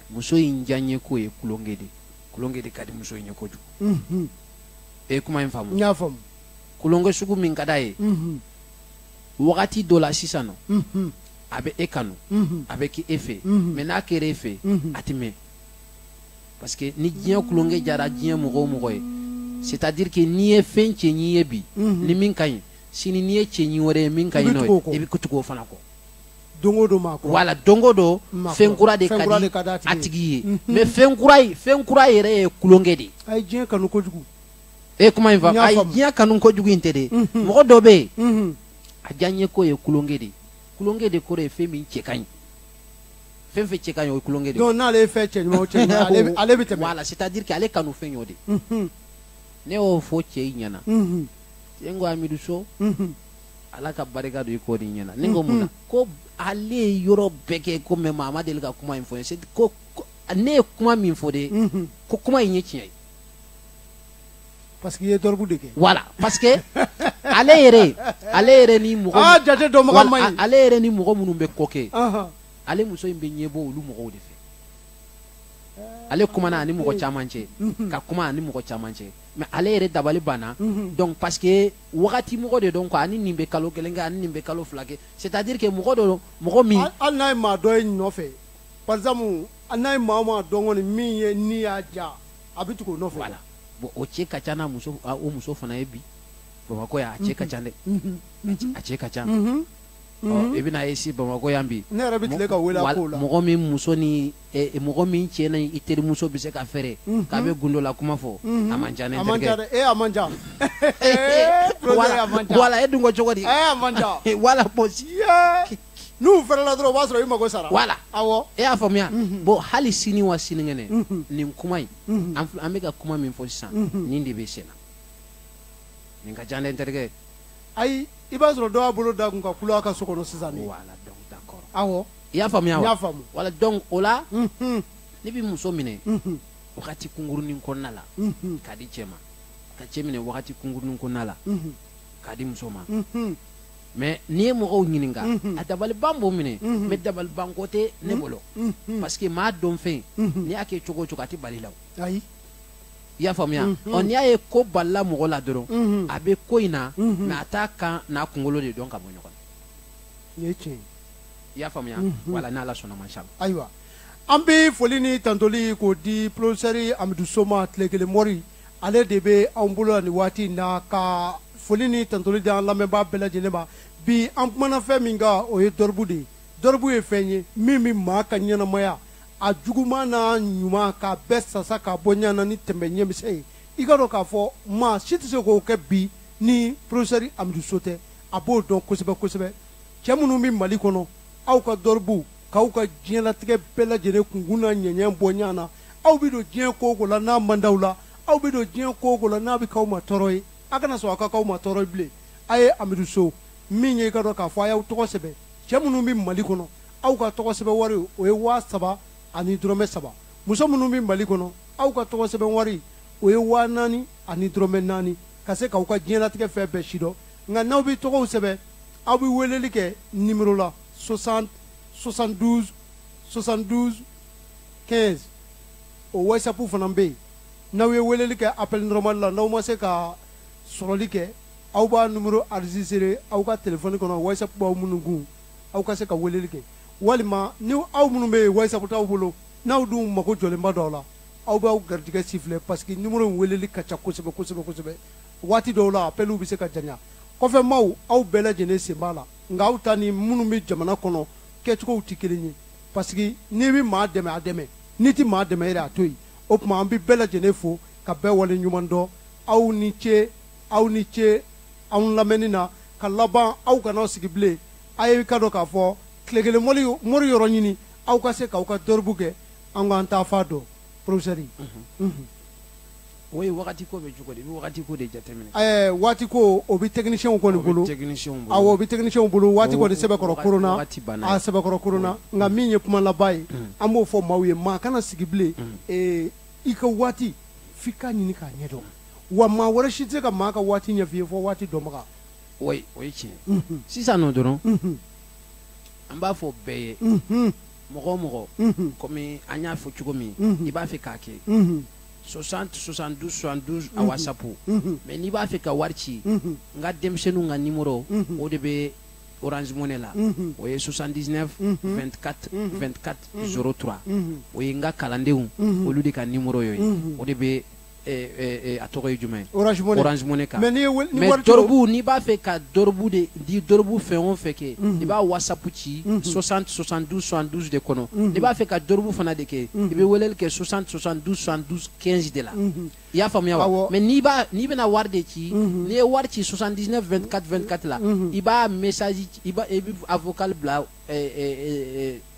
muso in diyanyeko ye tulonkɛ de tulonkɛ de ka di muso in ye kojugu e ye kuma in faamu n y'a faamu tulonkɛ sugu min ka d'a ye wagati dɔ la sisan nɔ a bɛ e kanu a bɛ kɛ e fɛ mais n'a kɛra e fɛ a tɛ mɛɛn parce que ni diɲɛ tulonkɛ diyara diɲɛ mɔgɔ o mɔgɔ ye c'est à dire que n'i ye fɛn cɛɲi ye bi ni min ka ɲi sini n'i ye cɛɲi wɛrɛ ye min ka ɲi n'o ye i bɛ tugu o fana kɔ don o don maa kura wala don o don fɛn kura de ka di a tigi ye mais fɛn kura fɛn kura yɛrɛ ye tulonkɛ de ye a ye diɲɛ kanu kojugu e kuma in fa a ye diɲɛ kanu kojugu in tɛ de mɔgɔ dɔ bɛ yen a diyanyeko ye tulonkɛ de ye tulonkɛ de kɔrɔ ye fɛn min cɛ ka ɲi fɛn fɛn cɛ ka ɲi o ye tulonkɛ de ye donc n'ale ye fɛn cɛ ɲuman o cɛ ɲuman ale bɛ ale bɛ tɛmɛ voilà c'est à dire que ale kanu fɛn y'o de ye unhun ne y'o fɔ cɛ in ɲɛna unhun cɛ in ko amidu so unhun ala ka barika don i kɔ nin ɲɛna ne ko mun na ko ale ye yɔrɔ bɛɛ kɛ ko mais maa ma deli ka kuma in fɔ n ye c'est ko ko- ne ye kuma min fɔ de unhun ko kuma in ye tiɲɛ ye parce que i ye dɔrɔgu de kɛ voilà parce que ale yɛrɛ ale yɛrɛ ni mɔgɔ aa jate dɔnbaga Wala, man ɲi a- ale yɛrɛ ni mɔgɔ minnu bɛ ko kɛ Anhan. ale muso in bɛ ɲɛbɔ olu mɔgɔw de fɛ ale kumana ani mɔgɔ caman cɛ mhm. ka kuma ani mɔgɔ caman cɛ mais ale yɛrɛ dabali banna mhm. donc parce que wagati mɔgɔ de don quoi a ni nin bɛ kalo kelen kɛ a ni nin bɛ kalo fila kɛ c'est à dire que mɔgɔ dɔ mɔgɔ min hali n'a ye maa dɔ ye nɔfɛ par exemple hali n'a ye maa o maa dɔn kɔni min ye ni y'a diya a bɛ tugu o nɔfɛ voilà bon o cɛ ka ca n'a muso o muso fana ye bi bamakɔ yan a cɛ ka ca dɛ mhm. a cɛ ka ca Mhm. i bɛna ye si bamakɔ yan bi ne yɛrɛ bɛ tile ka wele a ko la mɔgɔ min muso ni eh, eh, mɔgɔ min cɛ na i terimuso bɛ se ka fɛrɛ mhm. k'a bɛ gundo la kuma fɔ mhm. a man ca ne terikɛ e a man ca wala e dun ko cogo di a man ca voilà parce que n'u fɛrɛla dɔrɔn o b'a sɔrɔ i mago sara voilà awɔ e y'a faamuya bon hali sini wa sinikɛnɛ nin kuma in an bɛ ka kuma min fɔ sisan nin de bɛ sen na nin ka ca ne terikɛ ayi i b'a sɔrɔ dɔ y'a bolo d'a kun ka kulo a ka so kɔnɔ sisan de voilà donc d'accord awɔ i y'a faamuya wa n y'a faamu voilà donc o la unhun ne bɛ muso minɛ unhun wagati kunkurunin kɔnɔna la unhun k'a di cɛ ma ka cɛ minɛ wagati kunkurunin kɔnɔna la unhun k'a di muso ma unhun mais n'i ye mɔgɔw ɲininka Mhm. a dabaliban b'o minɛ Mhm. mais dabaliban ko tɛ ne bolo unhun parce que maa dɔnfɛn Mhm. n'i y'a kɛ cogo o cogo a tɛ bali la o. ayi i y'a faamuya ɔ n'i y'a ye ko balila mɔgɔ la dɔrɔn a bɛ ko in na mɛ a t'a kan n'a kunkolo de dɔn ka bɔ ɲɔgɔn na i y'a faamuya wala n'ala sɔnna mashala ayiwa an bɛ foli ni tantoli k'o di porofɛsɛri amidu so ma tile kelen mori ale de bɛ anw bolo la nin waati in na ka foli ni tantoli di an lamɛnbaa bɛɛ lajɛlen ma bi an kumana fɛn min kan o ye dɔribu de ye dɔribu ye fɛn ye min bɛ maa ka ɲɛnamaya a juguman n'a ɲuman k'a bɛɛ sasa ka bɔ ɲana ni tɛmɛ ɲɛmisɛn ye i k'a dɔn k'a fɔ maa si tɛ se k'o kɛ bi ni porofɛsɛri amidu so tɛ a b'o dɔn kosɛbɛ kosɛbɛ cɛ minnu bɛ mali kɔnɔ aw ka dɔribuw k'aw ka diɲɛlatigɛ bɛɛ lajɛlen kunkun n'a ɲɛɲɛ bɔ ɲa na aw bɛ don diɲɛ ko o ko la n'a man d'aw la aw bɛ don diɲɛ ko o ko la n'a bɛ k'aw ma tɔɔrɔ ye a kana sɔn a ka k'aw ma tɔɔrɔ ye bilen a ye amidu so min ye i k'a dɔn k'a fɔ a y'aw tɔgɔ sɛbɛn cɛ minnu bɛ mali kɔnɔ aw ka tɔgɔ sɛbɛn wari o ye waa saba ani dɔrɔmɛ saba muso minnu bɛ mali kɔnɔ aw ka tɔgɔ sɛbɛn wari o ye waa naani ani dɔrɔmɛ naani ka se k'aw ka diɲɛlatigɛ fɛn bɛɛ sidɔn nka n'aw bɛ tɔgɔw sɛbɛn aw bɛ weleli kɛ nimero la 60 72 72 15 o whatsapp fana bɛ yen n'aw ye weleli kɛ appel normal la n'aw ma se ka sɔrɔli kɛ aw b'a numero enregistré aw ka telefɔni kɔnɔ whatsapp b'aw minnu kun aw ka se ka weleli kɛ walima ni aw minnu bɛ yen wasabu t'aw bolo n'aw dun mago jɔlenba dɔw la aw b'aw garijɛgɛ sifilɛ parce que nimero weleli ka ca kosɛbɛ kosɛbɛ kosɛbɛ waati dɔw la apɛliw bɛ se ka janya kɔfɛ maaw aw bɛɛ lajɛlen sen b'a la nka aw ta ni minnu bɛ jamana kɔnɔ kɛcogow tɛ kelen ye parce que n'i bɛ maa dɛmɛ a dɛmɛ n'i tɛ maa dɛmɛ yɛrɛ a to yen o tuma an bɛ bɛɛ lajɛlen fo ka bɛɛ wale ɲuman dɔn aw ni ce aw ni ce anw lamɛnni na ka laban aw kana sigi bilen a ye k'a dɔn k'a fɔ tile kelen mori yɔrɔ ɲini aw ka se k'aw ka dɔribu kɛ an k'an taafan dɔn porofɛsɛri o ye waati ko bɛ cogo di i bɛ waati ko de jateminɛ ɛɛ waati ko o bɛ tɛkinisiyɛnw kɔni bolo o bɛ tɛkinisiyɛnw bolo awɔ o bɛ tɛkinisiyɛnw bolo waati kɔni sɛbɛkɔrɔ koronna waati banna a sɛbɛkɔrɔ koronna nka min ye kuma laban ye an b'o fɔ maaw ye maa kana sigi bilen ee i ka waati f'i k'a ɲini k'a ɲɛdɔn wa maa wɛrɛ si tɛ ka maa ka waati ɲɛf'i ye fo waati dɔnbaga o ye tiɲɛ sisan nɔ dɔrɔn an b'a fɔ bɛɛ ye mɔgɔ o mɔgɔ kɔmi an y'a fɔ cogo min i b'a fɛ k'a kɛ 60 72 72 a wasapu mɛ n'i b'a fɛ ka wari ci n ka denmisɛnninw ka nimoro o de bɛ orange money la o ye 79 24 24 03 o ye n ka kalandenw olu de ka nimoro ye o de bɛ a tɔgɔ ye jumɛn ye orange money kan mais dɔrɔbu n'i b'a fɛ ka dɔrɔbu de di dɔrɔbu fɛn o fɛn kɛ i b'a wasapu ci 60 72 72 de kɔnɔ n'i b'a fɛ ka dɔrɔbu fana de kɛ i bɛ weleli kɛ 60 72 72 15 de la i y'a faamuya wa mais n'i b'a n'i bɛna wari de ci n'i ye wari ci 79 24 24 la i b'a message i b'a i b'a vocal bila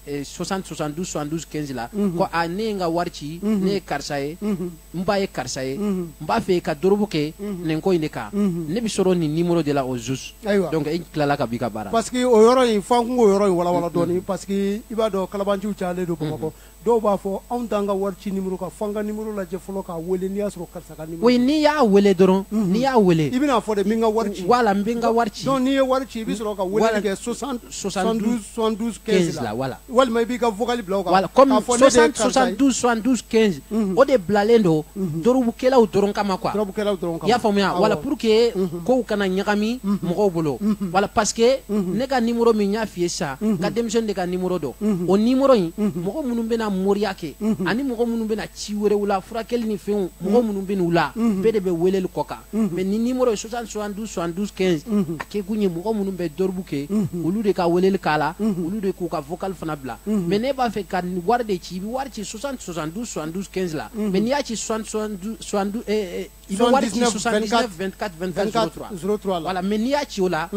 60 72 72 15 la ko a ne ye n ka wari ci ne ye karisa ye n ba ye karisa ye n b'a fɛ ka dorobu kɛ nin ko in de kan ne bɛ sɔrɔ nin nimoro de la au juste donc i tilala ka b'i ka baara parce que o yɔrɔ in fo an k'o yɔrɔ in walawala dɔɔni parce que i b'a dɔn kalabanciw cayalen don Bamakɔ dɔw b'a fɔ anw t'an ka wari ci numéro kan fo an ka numéro lajɛ fɔlɔ k'a wele n'i y'a sɔrɔ karisa ka numéro oui n'i y'a wele dɔrɔn mhm. n'i y'a wele i bɛna fɔ de n bɛ n ka wari ci voilà n bɛ n ka wari ci donc n'i ye wari ci i bɛ sɔrɔ ka weleli kɛ 60 72 72 15 la voilà walima i b'i ka vocal bila o kan voilà comme 60 72 72 15 o de bilalen don mhm. dorobukɛlaw dɔrɔn kama quoi dorobukɛlaw dɔrɔn kama i y'a faamuya voilà pour que mhm. kow kana ɲagami mhm. mɔgɔw bolo mhm. voilà parce que mhm. ne ka nimoro min y'a f'i ye sisan n ka denmisɛnnin de ka nimoro don o nimoro in mɔgɔ minnu bɛna moriya kɛ ani mɔgɔ minnu bɛna ci wɛrɛw la furakɛli ni fɛnw mɔgɔ minnu bɛ n'u la bɛɛ de bɛ weleli k'o kan mais nin nimoro in 60 72 72 15 a kɛ kun ye mɔgɔ minnu bɛ dɔribu kɛ olu de ka weleli k'a la olu de k'u ka vocal fana bila mais n'i b'a fɛ ka wari de ci i bɛ wari ci 60 72 72 15 la mais n'i y'a ci 60 72 72 eh, eh, I bɛ wari ci 79 24 24 03 la mais n'i y'a ci o la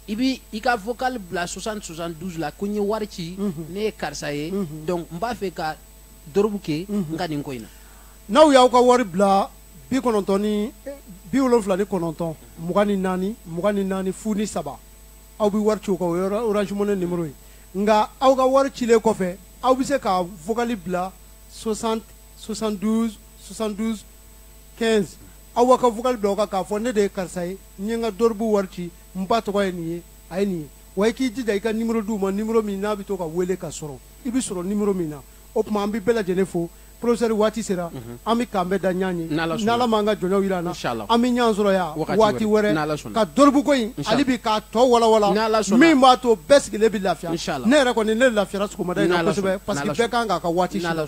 i bɛ i ka vocal bila 60 72 la ko n ye wari ci ne ye karisa ye donc n b'a fɛ ka dorobu kɛ n ka nin ko in na n'aw y'aw ka wari bila bi kɔnɔntɔn ni bi wolonwula ni kɔnɔntɔn mugan ni naani mugan ni naani fu ni saba aw bɛ wari ci o kan o ye orange money numéro ye nka aw ka wari cilen kɔfɛ aw bɛ se ka vocal bila 60 72 72 15 aw ka vocal bila o kan k'a fɔ ne de ye karisa ye n ye n ka dɔribu wari ci n ba tɔgɔ ye nin ye a ye nin ye wa i k'i jija i ka nimero di u ma nimero min n'a bɛ to ka wele ka sɔrɔ i bɛ sɔrɔ nimero min na o tuma an bɛ bɛɛ lajɛlen fo professeur waati sera mhm. an bɛ k'an bɛn da ɲɔgɔn ye n'ala m'an ka jɔnyaw jira an na an bɛ ɲɔgɔn sɔrɔ yan waati wɛrɛ ka dɔribuko in hali bi k'a tɔ walawala min b'a to bɛɛ sigilen bɛ lafiya ne yɛrɛ kɔni ne lafiyara sɔgɔmada in na kosɛbɛ parce que bɛɛ kan k'a ka waati sɔrɔ